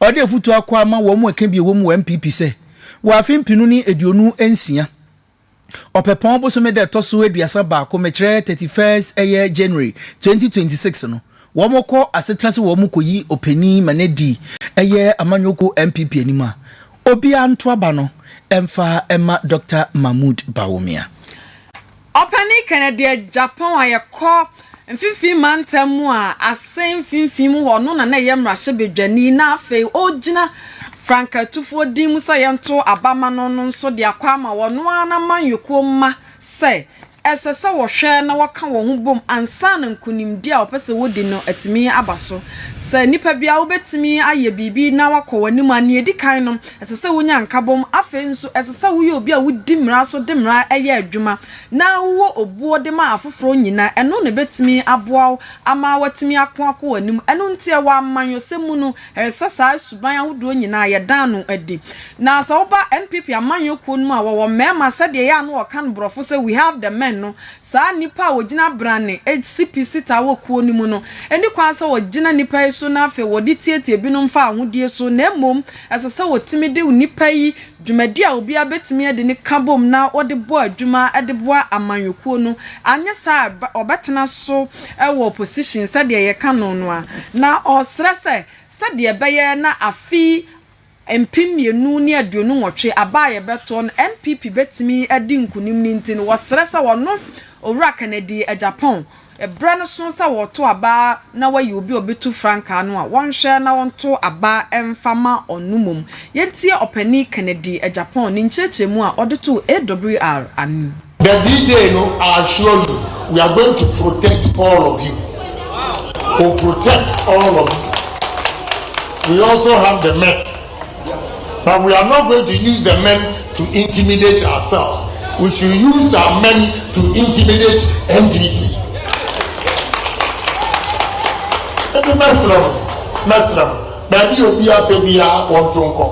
Ɔde afutuo akɔ ama wɔn a ɛka bi a ɛwɔ mu wɔ NPP sɛ wɔ afe mpenu ne aduonu nsia, Ɔpɛpɔn bosome da ɛtɔ so aduasa baako, mekyerɛ thirty first ɛyɛ January twenty twenty six no, wɔn kɔ asetena sɛ wɔn kɔ yi opanin ma no adi ɛyɛ Amanyɔkuo NPP anim a, obiara nto aba no mfa mma Doctor Mahmood Bawumia. Ɔpanin Kennedy Agyapong a yɛkɔ Mfinfini mantam mu a asen mfinfini mu hɔ no na na ɛyɛ mmarahyɛbadwani na afei ɔregyina frankatufoɔ din mu sɛ yɛnto aba ma no no nso de akɔ ama ɔno ara n'amanyɔkuo mma sɛ ɛsɛ sɛ wɔhwɛ na wɔka wɔn ho bom ansa na nkunimdie a wɔpɛ sɛ wɔdi no atumi aba so. Sɛ nipa biara wobɛtumi ayɛ biribi na woakɔ w'anim a, nea ɛdi kan no, ɛsɛ sɛ wonya nkabom. Afei nso, ɛsɛ sɛ woyɛ obi a wodi mmara so de mmara yɛ adwuma. na wowɔ obuo de ma afoforɔ nyinaa, ɛno na ɛbɛtumi aboa wo ama woatumi ako akɔ w'anim. Ɛno nti, wɔ amanyɔsɛm mu no, ɛyɛ sɛ saa suban ahodoɔ nyinaa yɛda ano adi. Na sɛ woba NPP amanyɔ kuo no mu a, wɔwɔ mmarima sɛdeɛ ɛyɛ a na wɔka no borɔfo sɛ we have the men no, saa nnipa a wɔgyina brane si pi sitaa wɔ kuo no mu no, ɛnni kwan sɛ wɔgyina nnipa yi so na afei wɔde tiatia binom fa ahodeɛ so, na mmom ɛsɛ sɛ wɔtumi de nnipa yi Dwumadi a obiara betumi de ne ka bom na ɔde bɔ adwuma de boa amanyɔkuo no, anyɛ saa a ɔbɛtena so wɔ position sɛdeɛ yɛka no no a, na ɔresrɛ sɛ sɛdeɛ ɛbɛyɛ na afe mpem mmienu ne aduonu nwɔtwe aba a yɛbɛtoɔ no NPP bɛtumi adi nkunim no nti no, wɔsrɛ sɛ wɔno Owura Kennedy Agyapong Ɛberɛ no so sɛ wɔreto aba na wɔayi obi a ɔbɛtu frankaa no a, wɔnhwɛ na wɔnto aba mfa mma ɔno mmom. Yɛntie Ɔpanin Kennedy Agyapong ne nkyerɛkyerɛmu a ɔde too AWR anim. The D day no I assure you we are going to protect all of you will protect all of you we also have the men But we are not going to use the men to intimidate ourselves we should use our men to intimidate NDC. Ebi mɛsrɛ mo mɛsrɛ mo baabi obi apɛ biara wɔn to nkɔ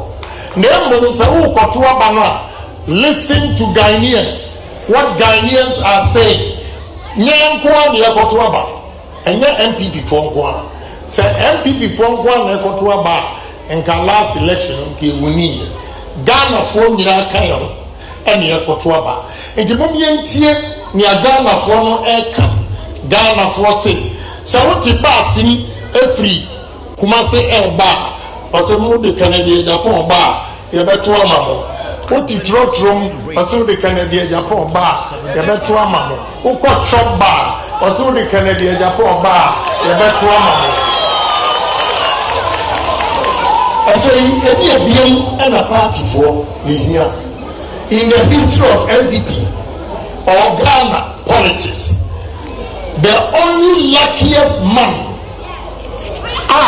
na mmom sɛ wokɔto aba no a listen to Ghanaians what Ghanaians are saying nyɛ nkoa na yɛkɔto aba. Ɛnyɛ NPP foɔ nko ara. Sɛ NPP foɔ nko ara na ɛkɔto aba a, nka last election no nka ɛwiniiɛ. Ghana foɔ nyinaa ka yɛn ho ɛna yɛkɔto aba. Nti mom yɛntie nea Ghana foɔ no ɛka. Ghana foɔ se, sɛ wote bus ni ɛfiri. Kumase ɛɛba a ɔsɛ mo de kane deɛ Japan ɔba a yɛbɛto ama mo wo te trotrom ɔsɛ wo de kane deɛ Japan ɔba a yɛbɛto ama mo wo kɔ chop bar ɔsɛ wo de kane deɛ Japan ɔba a yɛbɛto ama mo. Afei ɛne ɛbiam ɛna party foɔ yɛhia in the history of NPP or Ghana politics the only luckiest man. a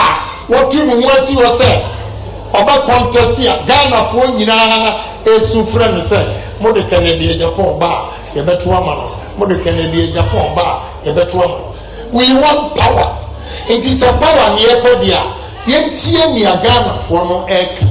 watu ne ho asi hɔ sɛ ɔbɛ contest a Ghanafoɔ nyinaa ɛresu frɛ no sɛ mo de Kennedy Agyapong ba a yɛbɛto ama no, mo de Kennedy Agyapong ba a yɛbɛto ama no. We want power. Nti sɛ power ne yɛpɛ deɛ a, yɛntie nea Ghanafoɔ no ɛreka.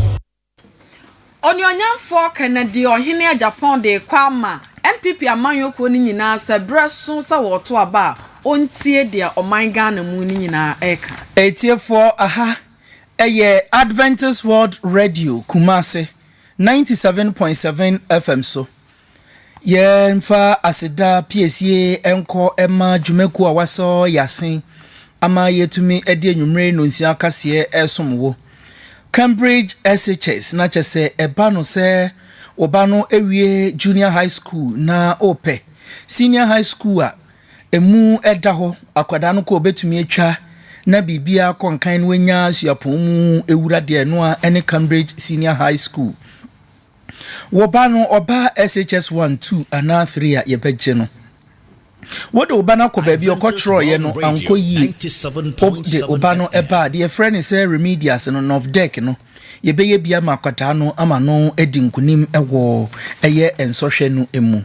Onuonyamfoɔ Kennedy Ɔhene Agyapong de rekɔ ama NPP amanyɔkuo no nyinaa sɛ berɛ so sɛ wɔreto aba a ɔntie deɛ ɔman Ghana mu no nyinaa reka. Atiefoɔ aha yɛ Adventist World Radio Kumasi ninety seven point seven FM so Yɛmfa aseda piesie nkɔ mma dwumakuo a wɔasɔ yɛn ase ama yɛatumi de anwummere nnonsia akaseɛ resom wo. Cambridge SHS na kyɛ sɛ ɛba no sɛ wo ba no awie Junior High School na ɔrepɛ Senior High School a ɛmu da hɔ, akwadaa no kɔ ɔbɛtumi atwa na biribiara kɔ nkan na wanya suapɔn mu wura deɛ ɛno ara ne Cambridge Senior High School. Wo ba no, ɔbaa SHS one, two anaa three a, yɛbɛgye no. Wode wo ba no akɔ baabi a ɔkɔtwerɛeɛ no ankɔ yie. Wode wo ba no baa deɛ yɛfrɛ no sɛ remedials no, NOVDEC no, yɛbɛyɛ bi ama akwadaa no ama no adi nkonim wɔ ɛyɛ nsɔhwɛ no mu.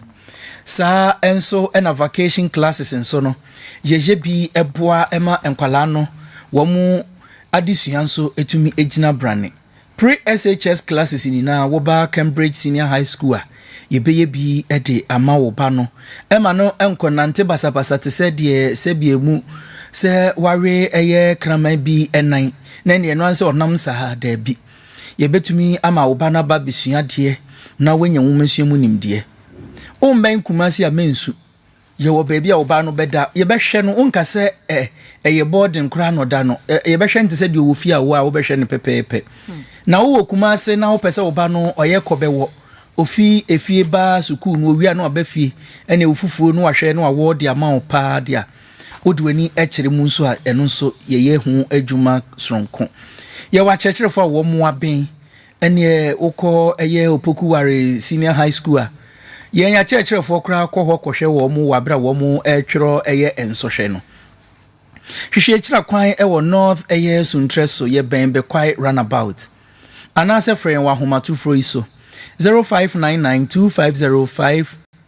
Saa nso na vacation classes nso no, yɛyɛ bi boa ma nkwadaa no wɔn adesua nso tumi gyina brane. Pre-SHS classes nyinaa wo ba Cambridge Senior High School a yɛbɛyɛ bi de ama wo ba no ma no nkɔnante basabasa te sɛ deɛ sɛbea mu sɛ wawe ɛyɛ kraman bi nan na ɛne ɛno ansɛ ɔnam saa daabi. Yɛbɛtumi ama wo ba no aba bɛsua adeɛ na wanya nwomasua mu nimdeɛ. Wommɛn Kumasi a mensu Yɛwɔ baabi a ɔbaa no bɛda. Yɛbɛhwɛ no. Wonka sɛ ɛ, ɛyɛ bɔɔden koraa na ɔda no. Ɛ, yɛbɛhwɛ no te sɛ deɛ ɔwɔ fie a wo a wobɛhwɛ no pɛpɛɛpɛ. Hmm. Na wowɔ Kumase na wopɛ sɛ ɔba no ɔyɛ kɔ bɛwɔ. Ofi efie ba sukuu no, owia na waba fie, ɛne wo fufuo no wahwɛ na wawɔ de ama wo paa de a, wode w'ani kyerɛ mu nso a, ɛno nso yɛyɛ ho adwuma soronko. Yɛwɔ akyerɛkyerɛfoɔ a wɔn mmoa bɛn Ɛneɛ wokɔ ɛyɛ Opokuware Senior High School a, yɛn akyerɛkyerɛfoɔ koraa kɔ hɔ kɔhwɛ wɔn wɔ aberɛ a wɔn retwerɛ ɛyɛ nsɔhwɛ no. Hwehwɛ akyira kwan wɔ North ɛyɛ Suntrɛ so yɛ bɛn Bekwai Runabout. Anaasɛ frɛ yɛn wɔ ahomatorofoɔ yi so, 0599 250 5.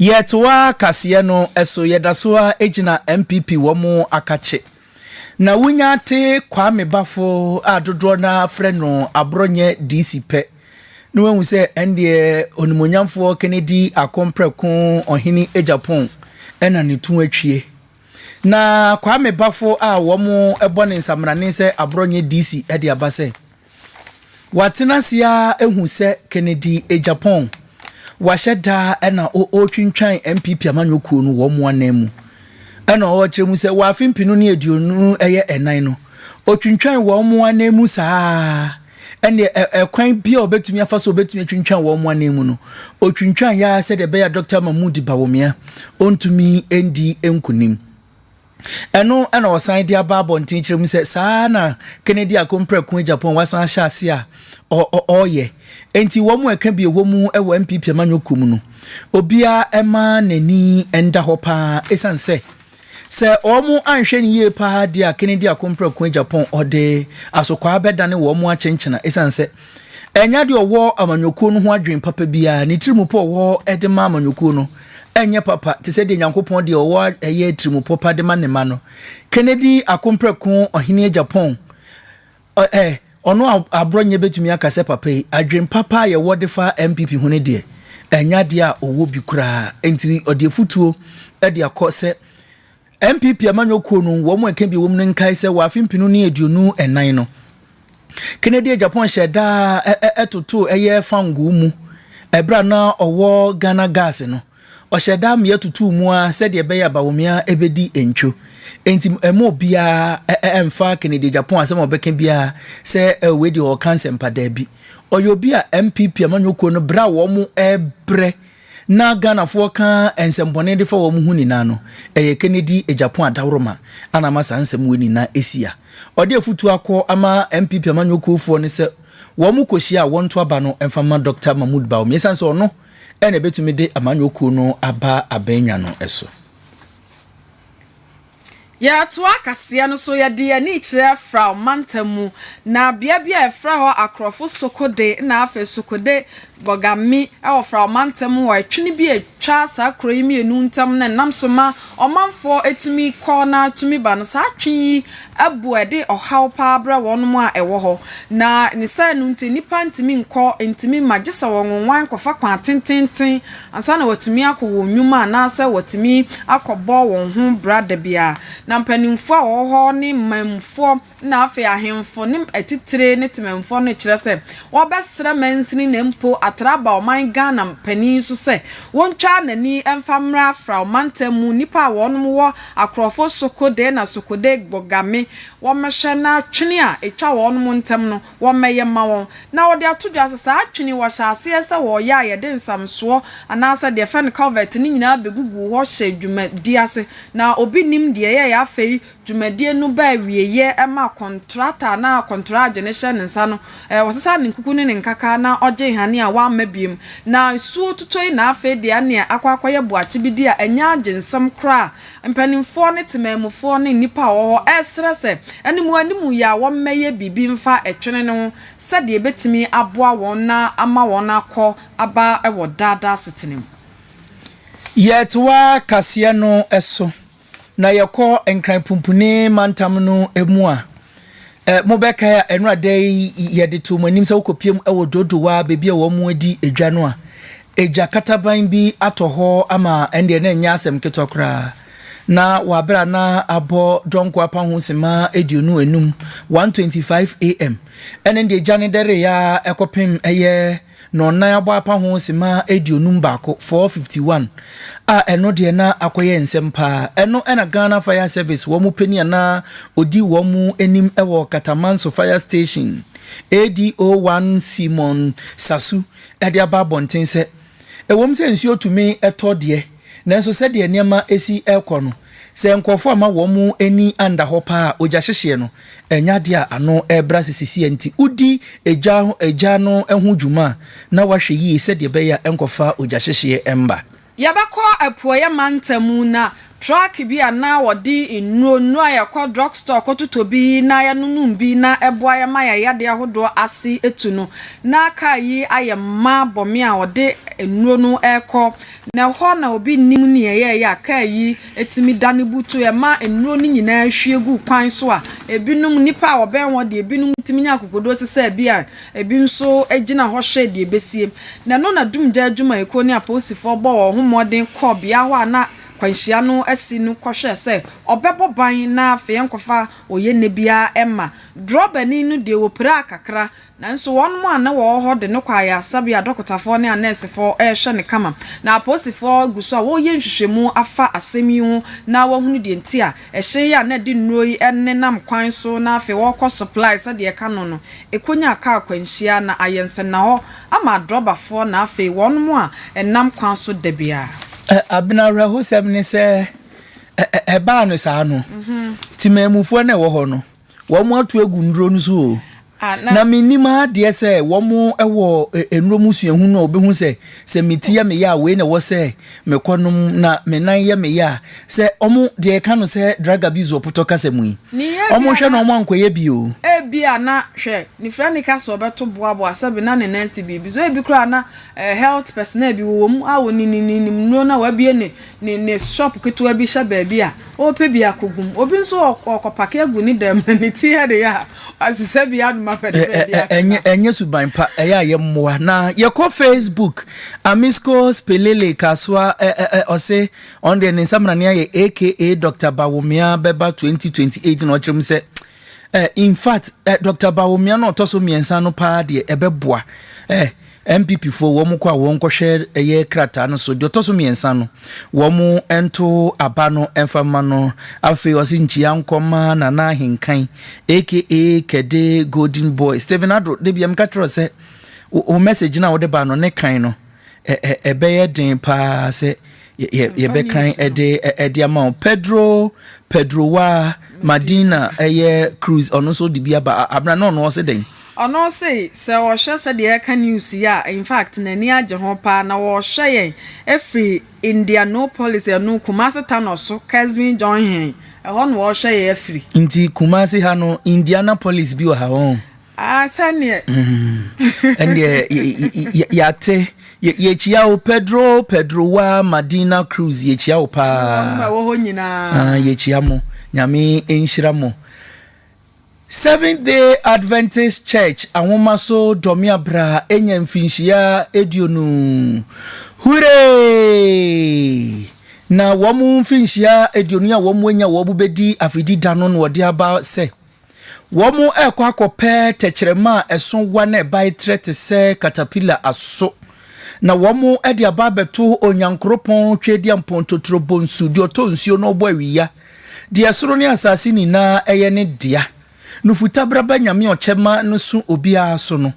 Yɛtoa kaseɛ no so yɛda so ara gyina NPP wɔn akakye. Na wonya te Kwame Bafo a dodoɔ no ara frɛ no aborɔ nyɛ DC pɛ na wahu sɛ ɛndeɛ onimuonyamfoɔ Kennedy Akompreko Ɔhene Agyapong na ne to atwie. Na Kwame Bafo a wɔn bɔ ne nsamanane sɛ aborɔ nyɛ DC de aba sɛ. Watena ase ara ahu sɛ Kennedy Agyapong wahyɛ da na ɔretwintwan NPP amanyɔkuo no wɔn anan mu. Ɛna ɔrekyerɛ mu sɛ wɔ afe mpenu ne aduonu ɛyɛ ɛnan no, ɔtwintwan wɔn anan mu saa ara. Ɛnneɛ ɛ, ɛkwan bi a ɔbɛtumi afa so ɔbɛtumi atwintwan wɔn anan mu no, ɔtwintwan yɛ ara sɛdeɛ ɛbɛyɛ a Dɔkta Mahmood Bawumia ɔntumi ndi nkunim. Ɛno na wɔsan de aba abɔnten kyerɛ mu sɛ saa ara na Kennedy a komprɛko Agyapong wasan ahyɛ ase a ɔreyɛ. Enti wɔn a ɛka bi a ɛwɔ mu wɔ NPP amanyɔkuo mu no, obiara mma n'ani nda hɔ pa ara ɛsiane sɛ, sɛ wɔanhwɛ no yie pa ara deɛ a Kennedy a komprɛko Agyapong ɔde asokwaa bɛdane wɔn akyenkyena ɛsiane sɛ, Ɛnyɛ deɛ ɔwɔ amanyɔkuo no ho adwene papa biara, ne tirimupɔ ɔwɔ de ma amanyɔkuo no ɛnyɛ papa te sɛ deɛ Nyankopɔn deɛ ɔwɔ ɛyɛ tirimupɔ pa de ma ne ma no. Kennedy Akompreko Ɔhene Japan ɛ ɔno a aborɔnyɛ bɛtumi aka sɛ papa yi, adwene papa a yɛwɔ de fa NPP ho no deɛ, ɛnyɛ adeɛ a ɔwɔ bi koraa. Nti ɔde afutuo de akɔ sɛ NPP amanyɔ kuo no wɔn mu ɛka bi wɔm no nkae sɛ wɔ afe mpenu ne aduonu ɛnan no, Kennedy a Japan hyɛ daa ɛtotoo ɛyɛ fangoo mu ɛberɛ a na ɔwɔ Ghana Gas no, ɔhyɛ daa mmea tutuu mu ara sɛdeɛ ɛbɛyɛ a Bawumia ɛbɛdi ntwo. Enti ɛmma obiara ɛmfa Kennedy a Japan asɛm a ɔbɛka biara sɛ wei deɛ ɔreka nsɛmpa, daabi. Ɔyɛ obi a NPP amanyɔ kuo no berɛ a wɔn ɛrebrɛ Na Ghanafoɔ ka nsɛmbɔne de fa wɔn ho nyinaa no, ɛyɛ Kennedy Agyapong adaworoma a na ama saa nsɛm wei nyinaa asi a ɔde afutuo akɔ ama NPP amanyɔkuofoɔ no sɛ wɔn kɔ hyia a wɔnto aba no mfa mma Dɔkta Mahmood Bawumia ɛsiane sɛ ɔno na ɛbɛtumi de amanyɔkuo no aba abɛn nwa no so. Yɛtoa kaseɛ no so, yɛde yɛn ani kyerɛ Frao mantam mu, na bea bi a yɛfrɛ hɔ Akorɔfo Sokode na afei Sokode Bogami wɔ Frao mantam hɔ. Ɛtwene bi a ɛtwa saa kuro yi mmienu ntam no nam so ma ɔmanfoɔ tumi kɔ na tumi ba no, saa twe yi abu a ɛde ɔhaw pa ara brɛ wɔn a ɛwɔ hɔ, na ne saa no nti nnipa ntumi nkɔ, ntumi mma gye sɛ wɔnwonwan kɔfa kwan tententen ansa na wɔatumi akɔ wɔn nnwuma anaasɛ wɔatumi akɔbɔ wɔn ho bra da bi ara. Na mpanimfoɔ a wɔwɔ hɔ ne manmufoɔ na afei ahemfo ne atitire ne temanmufoɔ no rekyerɛ sɛ wɔbɛsrɛ mansini na mpo atra aba ɔman Ghana panin so sɛ wɔntwa n'ani mfa mmra fra ɔmantam mu nnipa a wɔnom wɔ akorɔfo Soko Dee na Soko Dee Gbogame wɔmmɛhwɛ na twene a ɛtwa wɔnom ntam no wɔmmɛyɛ mma wɔn, na wɔde ato dwa sɛ saa twene yi wɔhyɛ aseɛ sɛ wɔreyɛ a yɛde nsamsoɔ anaasɛ deɛ yɛfrɛ no culvert no nyinaa bɛgugu hɔ hyɛ dwumadie ase. Na obi nnim deɛ ɛyɛeɛ afei dwumadie no ba awieeɛ ma kɔntrata no a kɔntoragye no hyɛ ne nsa no ɔsesa ne nkuku ne ne nkaka na ɔgye nhane a wamma biom. Na nsuo totɔ yi na afei deɛ ɛneɛ akɔ akɔyɛ boakye bi deɛ ɛnyɛ agye nsɛm koraa Mpanimfoɔ ne temanmufoɔ ne nnipa a wɔwɔ hɔ resrɛ sɛ animuanimu yɛ a wɔmmɛyɛ biribi mfa ɛtwene no ho sɛdeɛ ɛbɛtumi aboa wɔn na ama wɔn akɔ aba wɔ daa daa asetena mu. Yɛtoa kaseɛ no so na yɛkɔ Nkran Pumpuni mantam no mu a, mobɛkae a ɛno ada yi yɛde too mo anim sɛ wokɔpiem wɔ Dodowa baabi a wɔadi dwa no a, Egya kataban bi atɔ hɔ ama ɛndeɛ na ɛnyɛ asɛm ketewa koraa. Na wɔ aberɛ a na abɔ Donkor Apa ho sima aduonu anum, 1:25 am, ɛne ndeɛ egya no dɛreeɛ ara ɛkɔpem ɛyɛ nɔnnan abɔ apa ho sima aduonum baako, 4:51, a ɛno deɛ na akɔyɛ nsɛm paa. Ɛno na Ghana Fire Service wɔn panin a na ɔdi wɔn anim wɔ Katamanso Fire Station, ADO-1 Simon Sasu de aba abɔnten sɛ, ɛwom sɛ nsuo tumi tɔ deɛ, nanso sɛdeɛ nneɛma si rekɔ no, sɛ nkurɔfoɔ amma wɔn ani anda hɔ paa a, ogyahyehyeɛ no nyɛ adeɛ a ano bra sɛ seesei. Enti wodi gya no ho dwuma a, na woahwɛ yie sɛdeɛ ɛbɛyɛ a ɛrenkɔfa ogyahyehyeɛ mma. Yɛbɛkɔ apueeɛ mantam na truck bi a na wɔde nnuro nnuro a yɛkɔ drug store kɔtotɔ bi na yɛnonom bi na ɛboa yɛn ma yɛn yadeɛ ahodoɔ ase atu no, na kaa yi ayɛ ma bɔ me a ɔde nnuro no rekɔ. Na ɛhɔ na obi nnim nea ɛyɛeɛ a kaa yi tumi dane butu, ɛma nnuro no nyinaa hwie gu kwan so a ɛbinom, nnipa a wɔbɛn hɔ deɛ ɛbinom tumi nya akokoɔduro te sɛ bi a. Ebi nso gyina hɔ hwɛ deɛ ɛbɛsie. Na ɛno na Dumgya adwumayɛkuo ne apolisifoɔ bɔɔ wɔn ho mmɔden kɔɔ bea hɔ a na kwanhyia no asi no kɔhwɛɛ sɛ ɔbɛbɔ ban na afei ɛnkɔfa oyenɛ biara mma. Drɔbani no deɛ wɔpiraa kakra, nanso wɔn a na wɔwɔ hɔ de no kɔ ayaresabea a dɔkotafoɔ ne anɛɛsefoɔ rehwɛ no kama. Na apolisifoɔ gu so a wɔreyɛ nhwehwɛmu afa asɛm yi ho na wɔahunu deɛ nti a Ɛhyɛn yi a na ɛde nnuro yi nenam kwan so na afei wɔrekɔ supply sɛdeɛ ɛka no no, ɛkɔnyaa kaa akwanhyia na ayɛ nsɛnnahɔ ama adrɔbafoɔ na afei wɔnom a ɛnam kwan so da biara. Abena awerɛhosɛm ne sɛ ɛbaa no saa no, temanmufoɔ no a ɛwɔ hɔ no, Wɔato agu nnuro no so o. Na mennim ara deɛ sɛ wɔwɔ nnuro mu suahunu a wɔbɛhu sɛ, sɛ me ti yɛ me ya a, wei na ɛwɔ sɛ mekɔnom, na me nan yɛ me ya a, sɛ wɔn, deɛ yɛka no sɛ drug abuse wɔ potɔ kasa mu yi, wɔnhwɛ na wɔankɔyɛ bi o. Ebia na, hwɛ, ne fira no ka sɛ ɔbɛto boaboa, sɛbe na ne nan asi biribi so. Ebi koraa na health personnel bi wɔwɔ mu a wɔnininim nnuro no a wɔabue ne ne ne shop ketewa bi hyɛ baabi a, ɔrepɛ bi akogu mu. Obi nso ɔkɔpake agu ne dan mu, ne ti yɛ de yɛ a, wasesa bi anom apɛ de baabi akeka. Ɛnyɛ suban pa, ɛyɛ a yɛmmoa. Na yɛkɔ Facebook, Amisco Spelele Kasoa ɔse ɔno deɛ ne nsamanani ayɛ aka Doctor Bawumia bɛba 2028 na ɔkyerɛ mu sɛ Eh, in fact, eh, Dr. Bawumia na ɔtɔ so mmiɛnsa no paa deɛ ɛbɛboa. Eh, NPP foɔ wɔn kɔ a wɔn kɔhwɛ ɛyɛ krataa no so deɛ ɔtɔ so mmiɛnsa no wɔn nto aba no ɛnfa ma no afei ɔsi nkyia nkɔma nana ahenkan aka kɛde golden boy Stephen Ado de bia mka kyerɛ sɛ o message na wɔde ba no ne kan no ɛbɛyɛ den paa sɛ yɛbɛkan de ɛde ama wo pedro pedro wa madina ɛyɛ cruz ɔno nso de bi aba abena na ɔno ɔse dɛn ɔno se sɛ ɔhwɛ sɛdeɛ ɛka news yi a in fact n'ani agye ho paa na wɔhwɛ yɛn ɛfiri indianopolis ɛno kumase tanɔ so kesvin john hen ɛhɔ na wɔhwɛ yɛn afiri nti kumase ha no indianapolis bi wɔ ha wɔn Ah, sɛneɛ. Ɛnneɛ yɛate yɛkyia wo Pedro Pedro wa Madina Cruz yɛkyia wo paa. Wɔ hɔ nyinaa. Ah, yɛkyia mo. Nyame nhyira mo. Seventh Day Adventist Church ahoma so dɔme abra enya mfinhyia aduonu. Hooray! Na wɔn mfinhyia aduonu a wɔn anya wɔn bɛdi afidi da no na wɔde aba sɛ. Wɔrekɔ akɔpɛ tɛkyerɛma a ɛso wa na ɛbae trɛ te sɛ katapila aso, na wɔde aba abɛto Onyankoropɔn Tweaduampɔn Totoro Bonsu, deɛ ɔtɔ nsuo na ɔbɔ awia, deɛ soro ne asase nyinaa yɛ ne dea, Nufutabraba Nyame Ɔkyɛma no so obiara so no.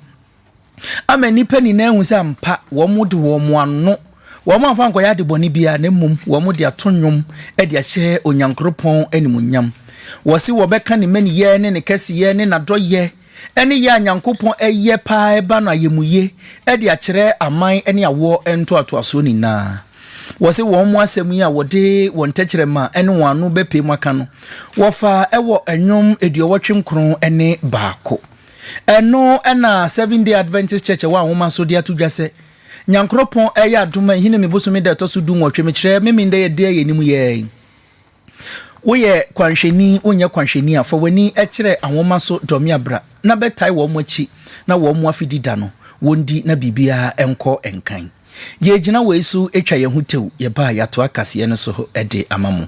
ama nnipa nyinaa ahu sɛ ampa wɔde wɔn ano, wɔamfa ankɔyɛ ade bɔne biara, na mmom wɔde ato nnwom de ahyɛ Onyankoropɔn animuonyam. Wɔse wɔbɛka ne mmaniyɛ ne ne kɛseyɛ ne n'adɔyɛ ne yɛ a Nyankopɔn yɛ paa ɛba no ayɛmuye de akyerɛ aman ne awoɔ ntoatoasoɔ nyinaa. Wɔse wɔn asɛm yi a wɔde wɔn tɛkyerɛma ne wɔn ano bɛpae mu aka no, wɔfa wɔ nnwom aduɔwɔtwe nkron ne baako. Ɛno na Seventh Day Adventist Church a ɛwɔ Anwoma so de ato dwa sɛ, Nyankoropɔn reyɛ adom a Ahinime bosome da a ɛtɔ so du nwɔtwe, mekyerɛ, Memenda yɛ de a yɛnim yɛ yi. Woyɛ kwanhwɛni, wonyɛ kwanhwɛni a, fa w'ani kyerɛ Anwoma so, Dɔ Me a Bra, na bɛtae wɔn akyi na wɔn afe di da no, wɔndi na biribiara nkɔ nkan. Yɛregyina wei so atwa yɛn ho tew, yɛba a yɛatoa kaseɛ no so de ama mo.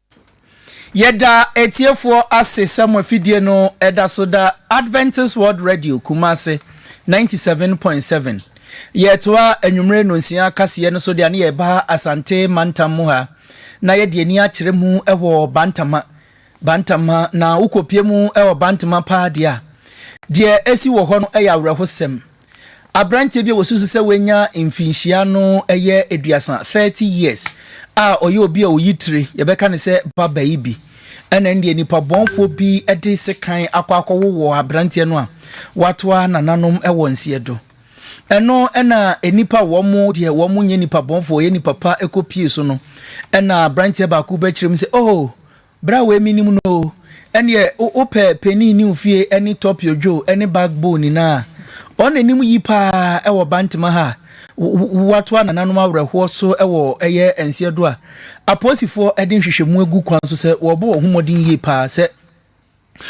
Yɛda atiefoɔ ase sɛ mo afidie no da so da Adventist World Radio Kumasi 97.7. Yɛtoa anwummere nnonsia kaseɛ no so de ane yɛba Asante mantam mu ha na yɛde ani akyerɛ mu wɔ Bantama, Bantama, na wokɔpie mu wɔ Bantama paa deɛ a, deɛ ɛsi wɔ hɔ no yɛ awerɛhosɛm. Aberanteɛ bi a wɔsusu sɛ wanya mfinhyia no yɛ aduasa, 30 years, a ɔyɛ obi a ɔyi tire, yɛbɛka no sɛ babayi bi. Ɛna ɛndeɛ nipabɔnfoɔ bi de sekan akɔ akɔwowɔ aberanteɛ no a watoa nananom wɔ nseɛ do. Ɛno ɛna nnipa a wɔn deɛ wɔn nyɛ nipabɔnfoɔ, wɔyɛ nnipa pa kɔpie so no. Ɛna aberanteɛ baako bɛkyerɛ mu sɛ, Oh! Bra wei menim no oo. Ɛneɛ wo pɛ Penny ne Ofie ɛne Top Your Dwo ɛne Back Bone nyinaa a, wɔn na ɛnim yi paa ɛwɔ Bantama ha a, woatoa nananom awerɛhoɔ so ɛwɔ ɛyɛ Nseɛdo a, apolisifoɔ ɛde nhwehwɛmu agu kwan so sɛ wɔrebɔ wɔn ho mmɔden yie paa sɛ.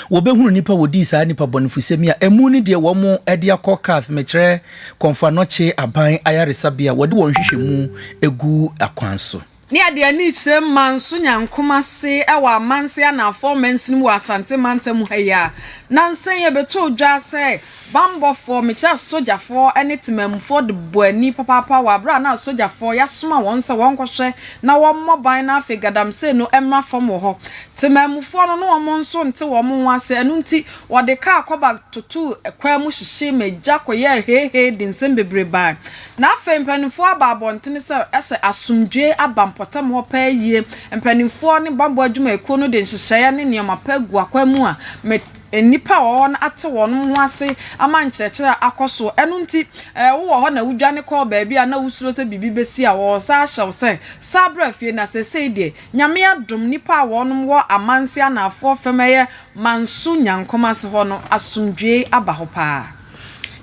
Wɔbɛhunu nnipa wɔdii saa nnipa bɔnefosɛm yi a ɛmu ne deɛ wɔn de akɔ Kath, mekyerɛ Kɔmfoanɔkye Aban Ayaresabea, wɔde wɔn nhwehwɛmu gu akwan so. Ne ɛde ani kyerɛ mma nso nya nkoma ase wɔ amanse anaafoɔ mansini mu wɔ Asante mantam ha yi a, nansa yi ɛbɛtoo dwa sɛ Bammɔfoɔ, mekyerɛ asogyafoɔ ne temanmufoɔ de bɔ ani papaapa wɔ aberɛ a na asogyafoɔ yɛasoma wɔn sɛ wɔnkɔhwɛ na wɔmmɔ ban na afei galamsey no mmra fam wɔ hɔ. Temanmufoɔ no ne wɔn nso nte wɔn ho ase, ɛno nti wɔde kaa kɔba totoo kwan mu hyehyee me gya kɔyɛɛ heehee de nsɛm bebree baeɛ. Na afei mpaninfoɔ aba abɔntene sɛ ɛsɛ asomdwoe aba mpɔtam hɔ paa yie, mpaninfoɔ ne bammɔ adwumayɛkuo no de nhyehyɛeɛ ne nneɛma pa agu akwan mu a me Nnipa a wɔwɔ hɔ no ate wɔn ho ase ama nkyerɛkyerɛ a akɔ so. Ɛno nti, wowɔ hɔ na wudwane kɔɔ baabi a na wusuro sɛ biribi besi a, wɔresan ahyɛ wo sɛ, san bra fie. Na seesei deɛ, Nyame adom, nnipa a wɔnom wɔ Amanse anaafoɔ fam ɛyɛ Manso Nyankomase hɔ no, asomdwoe aba hɔ paa.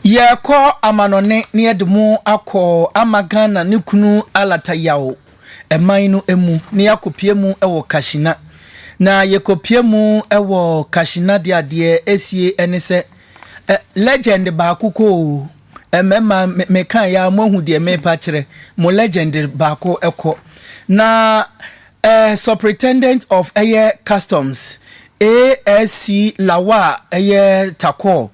Yɛrekɔ amanɔne na yɛde mo akɔ ama Ghana ne kunu Alata Yaw. man no mu na yɛakɔpue mu wɔ Kashina. Na yɛkɔpue mu wɔ Kashina deɛ a, deɛ ɛsie ne sɛ, ɛ, legend baako kɔ o. Ɛ, mɛma, me, meka yɛ a, moahu deɛ merepa kyerɛ mo, legend baako kɔ. Na, ɛ, superintendent of ɛyɛ customs, ASC Lawal ɛyɛ Takor,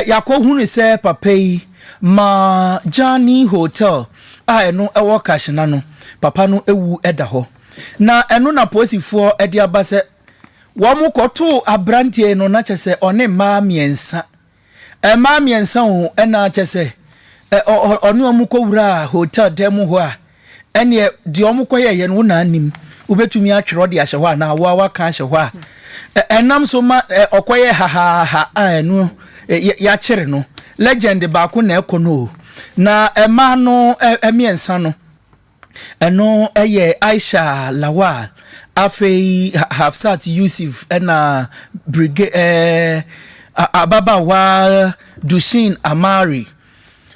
Yɛakɔhunu sɛ papa yi ma Jani Hotel a ɛno wɔ Kashina no, papa no wu da hɔ. Na ɛno na polisifoɔ de aba sɛ wɔkɔtoo aberanteɛ yi no, na kyerɛ sɛ ɔne mmaa mmiɛnsa, mmaa mmiɛnsa o, ɛna kyerɛ sɛ ɔne wɔn kɔwuraa hotel dan mu hɔ a, ɛnneɛ deɛ wɔkɔyɛeɛ no wo na anim, wobɛtumi atwerɛ de ahyɛ hɔ anaa wo a woaka ahyɛ hɔ a, ɛnam so ma ɔkɔyɛ hahaaha a ɛno yɛakyere no. Legend baako na ɛkɔ no o. Na mmaa no mmiɛnsa no, ɛno yɛ Aisha Lawal, afei Hafsat Yusuf ɛna Brigade ɛɛ ababaawa Dushin Amari.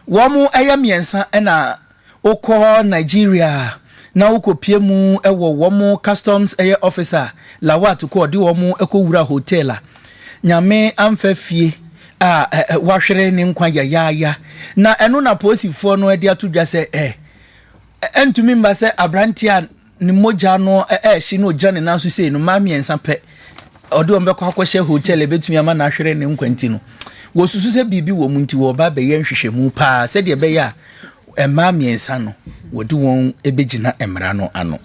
Wɔn ɛyɛ mmiɛnsa ɛna Wokɔ Nigeria a, na wokopue mu wɔ wɔn customs ɛyɛ officer a Lawat kɔ ɔde wɔn kɔ wura hotel a Nyame amfa fie a wahwere ne nkwa yayaaya na ɛno na polisifoɔ no de ato dwa sɛ ɛ ɛntumi mma sɛ abranteɛ a ne mogya no ɛrehye na ogyina ne nan so sei no mmaa mmiɛnsa pɛ ɔde wɔn bɛkɔ akɔhyɛ hotel ebetumi ama no ahwere ne nkwa nti no wɔsusu sɛ biribi wɔ mu nti wɔba abɛyɛ nhwehwɛmu paa sɛdeɛ ɛbɛyɛ a mmaa mmiɛnsa no wɔde wɔn bɛgyina mmara no ano.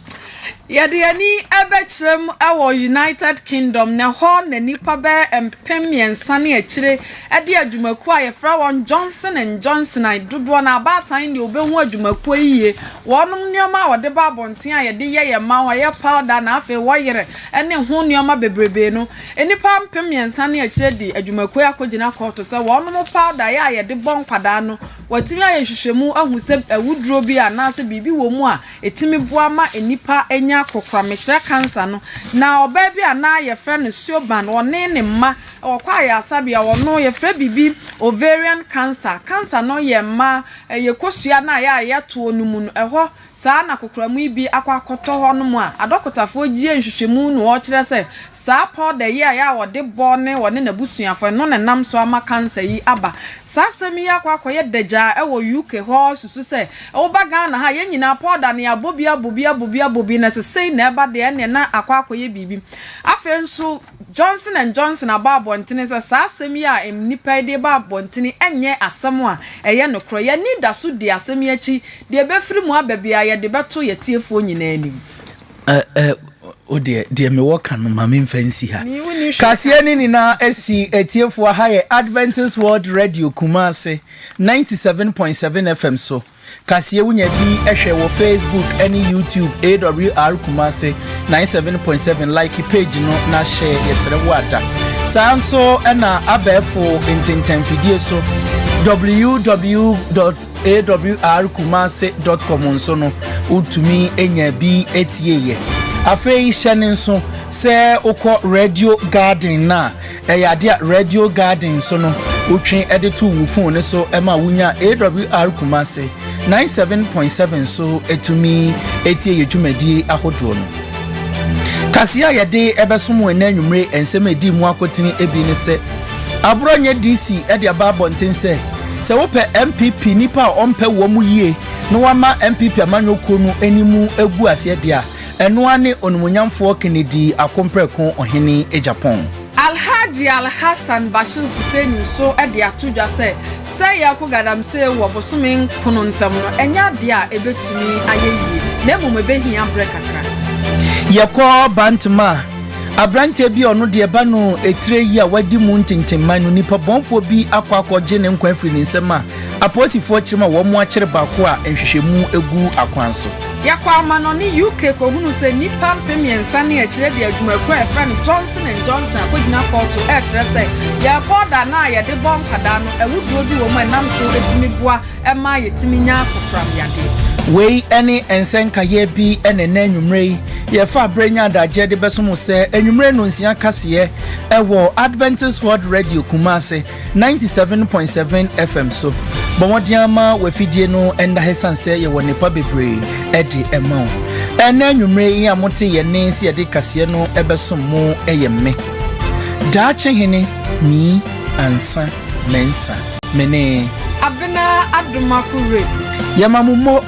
yɛde ani bɛkyerɛ mu wɔ united kingdom na ɛhɔ na nnipa bɛyɛ mpem mmiɛnsa ne akyire de adwumakuo a yɛfrɛ wɔn Johnson and Johnson a dodoɔ no abaatan deɛ wobɛhu adwumakuo yi yie. Wɔnom nneɛma a wɔde ba abɔnten a yɛde yɛ yɛn mma ho, ɛyɛ powder na afei wɔyere ne ho nneɛma bebrebee no, nnipa mpem mmiɛnsa ne akyire de adwumakuo yi akɔgyina kɔɔto sɛ wɔnom powder yɛ a yɛde bɔ nkwadaa no, wɔatumi ayɛ nhwehwɛmu ahu sɛ awuduro bi anaasɛ biribi wɔ mu a ɛtumi boa ma nnipa nya kokoram, mekyerɛ cancer no. Na ɔbaa bi a na yɛfrɛ no Siobhan, ɔne ne mma, Wɔ kɔ ayarsabea wɔ no yɛfrɛ biribi ovarian cancer cancer no yɛ mma ɛyɛ kosua no a yɛ a yɛ toɔ no mu no ɛhɔ saa na kokoramu yi bi akɔ akɔtɔ hɔ nom a adɔkotafoɔ gyie nhwehwɛmu no ɔkyerɛ sɛ saa powder yi a yɛ a wɔde bɔ ne wɔne nabusuafoɔ ɛno na ɛnam so ama cancer yi aba saa asɛm yi akɔ akɔyɛ dagyaa ɛwɔ UK hɔ susu sɛ woba Ghana ha yɛ nyinaa powder no yɛabɔ bi abɔ bi abɔ bi abɔ bi na sesei na ɛba deɛ ɛneɛ na akɔ akɔyɛ biribi afei nso Johnson and Johnson abɔ abɔntene sɛ saa asɛm yi a nnipa yi de reba abɔntene nyɛ asɛm a ɛyɛ nokorɛ. Yɛn ani da so di asɛm yi akyi. Deɛ ɛbɛfiri mu aba biara, yɛde bɛto yɛn atiefoɔ nyinaa anim. Ɛ ɛ Wo deɛ, deɛ mewɔ ka no, ma memfa nsi ha. Me, wonni hwee ka. Kaseɛ no nyinaa si atiefoɔ. Ha yɛ Adventist World Radio Kumasi, ninety seven point seven FM so. Kaseɛ wonya bi hwɛ wɔ Facebook ne YouTube AWR Kumase 97.7 like page no na hyɛ yɛsrɛ wo ada. Saa nso na abɛɛfo ntentanfidie so www.awrkumase.com nso no wotumi nya bi tie yɛ. Afei hyɛ ne nso sɛ wokɔ Radio Garden no a Ɛyɛ ade a Radio Garden so no wotwe de to wo fon no so ma wunya AWR Kumasi ninety seven point seven so tumi tie yɛ dwumadi ahodoɔ no. Kaseɛ a yɛde ɛbɛsom wɔn ɛnɛ anwummere nsɛm a ɛdi mu akotene ebi ne sɛ aborɔ nyɛ DC de aba abɔnten sɛ sɛ wopɛ MPP nipa a ɔmpɛ wɔn mu yie na wama MPP amanyɔkuo no anim agu aseɛ deɛ a Ɛno ara ne Onimuonyamfoɔ Kennedy Akompreko Ɔhene Agyapong. Alhaji Alhassan Bashir Hussein nso de ato dwa sɛ sɛeɛ rekɔ galamsee wɔ bosome nkono ntam no, ɛnyɛ adeɛ a ɛbɛtumi ayɛ yie, na mmom ɛbɛhia berɛ kakra. Yɛkɔ Bantam a, aberanteɛ bi a ɔno deɛ ɛba no tire yi a wadi mu ntentemman no, nnipa bɔnfoɔ bi akɔ akɔgye ne nkwa afiri ne nsam a, Apolisifoɔ kyerɛ mu a wɔakyere baako a nhwehwɛmu gu akwan so. Yɛkɔɔ amannɔne UK kɔhunuu sɛ nnipa mpem mmiɛnsa ne akyire de adwumakuo a yɛfrɛ no Johnson and Johnson akɔgyina kɔɔto rekyerɛ sɛ yɛn powder no a yɛde bɔ nkwadaa no awuduro bi wɔ mu a ɛnam so tumi boa ma yɛtumi nya kokoram yadeɛ. Wei ne ɛnsɛ nkaeɛ bi na ɛnnɛ anwummerɛ yi yɛfa berɛ nya adagyeɛ de bɛso mo sɛ anwummerɛ nnɔnsia kaseɛ wɔ Adventist World Radio Kumase 97.7 FM so. Bɔ mmɔden ama w'afidie no nna ha ɛsiane sɛ yɛwɔ nnepa bebree de ɛma wo. Ɛnna anwummere yi a mote yɛn ne sɛ yɛde kaseɛ no ɛbɛsom mo ɛyɛ me. Daakye hene nii ansa mensa mene. Abena Adomako Radio. Yɛma mo mmɔ.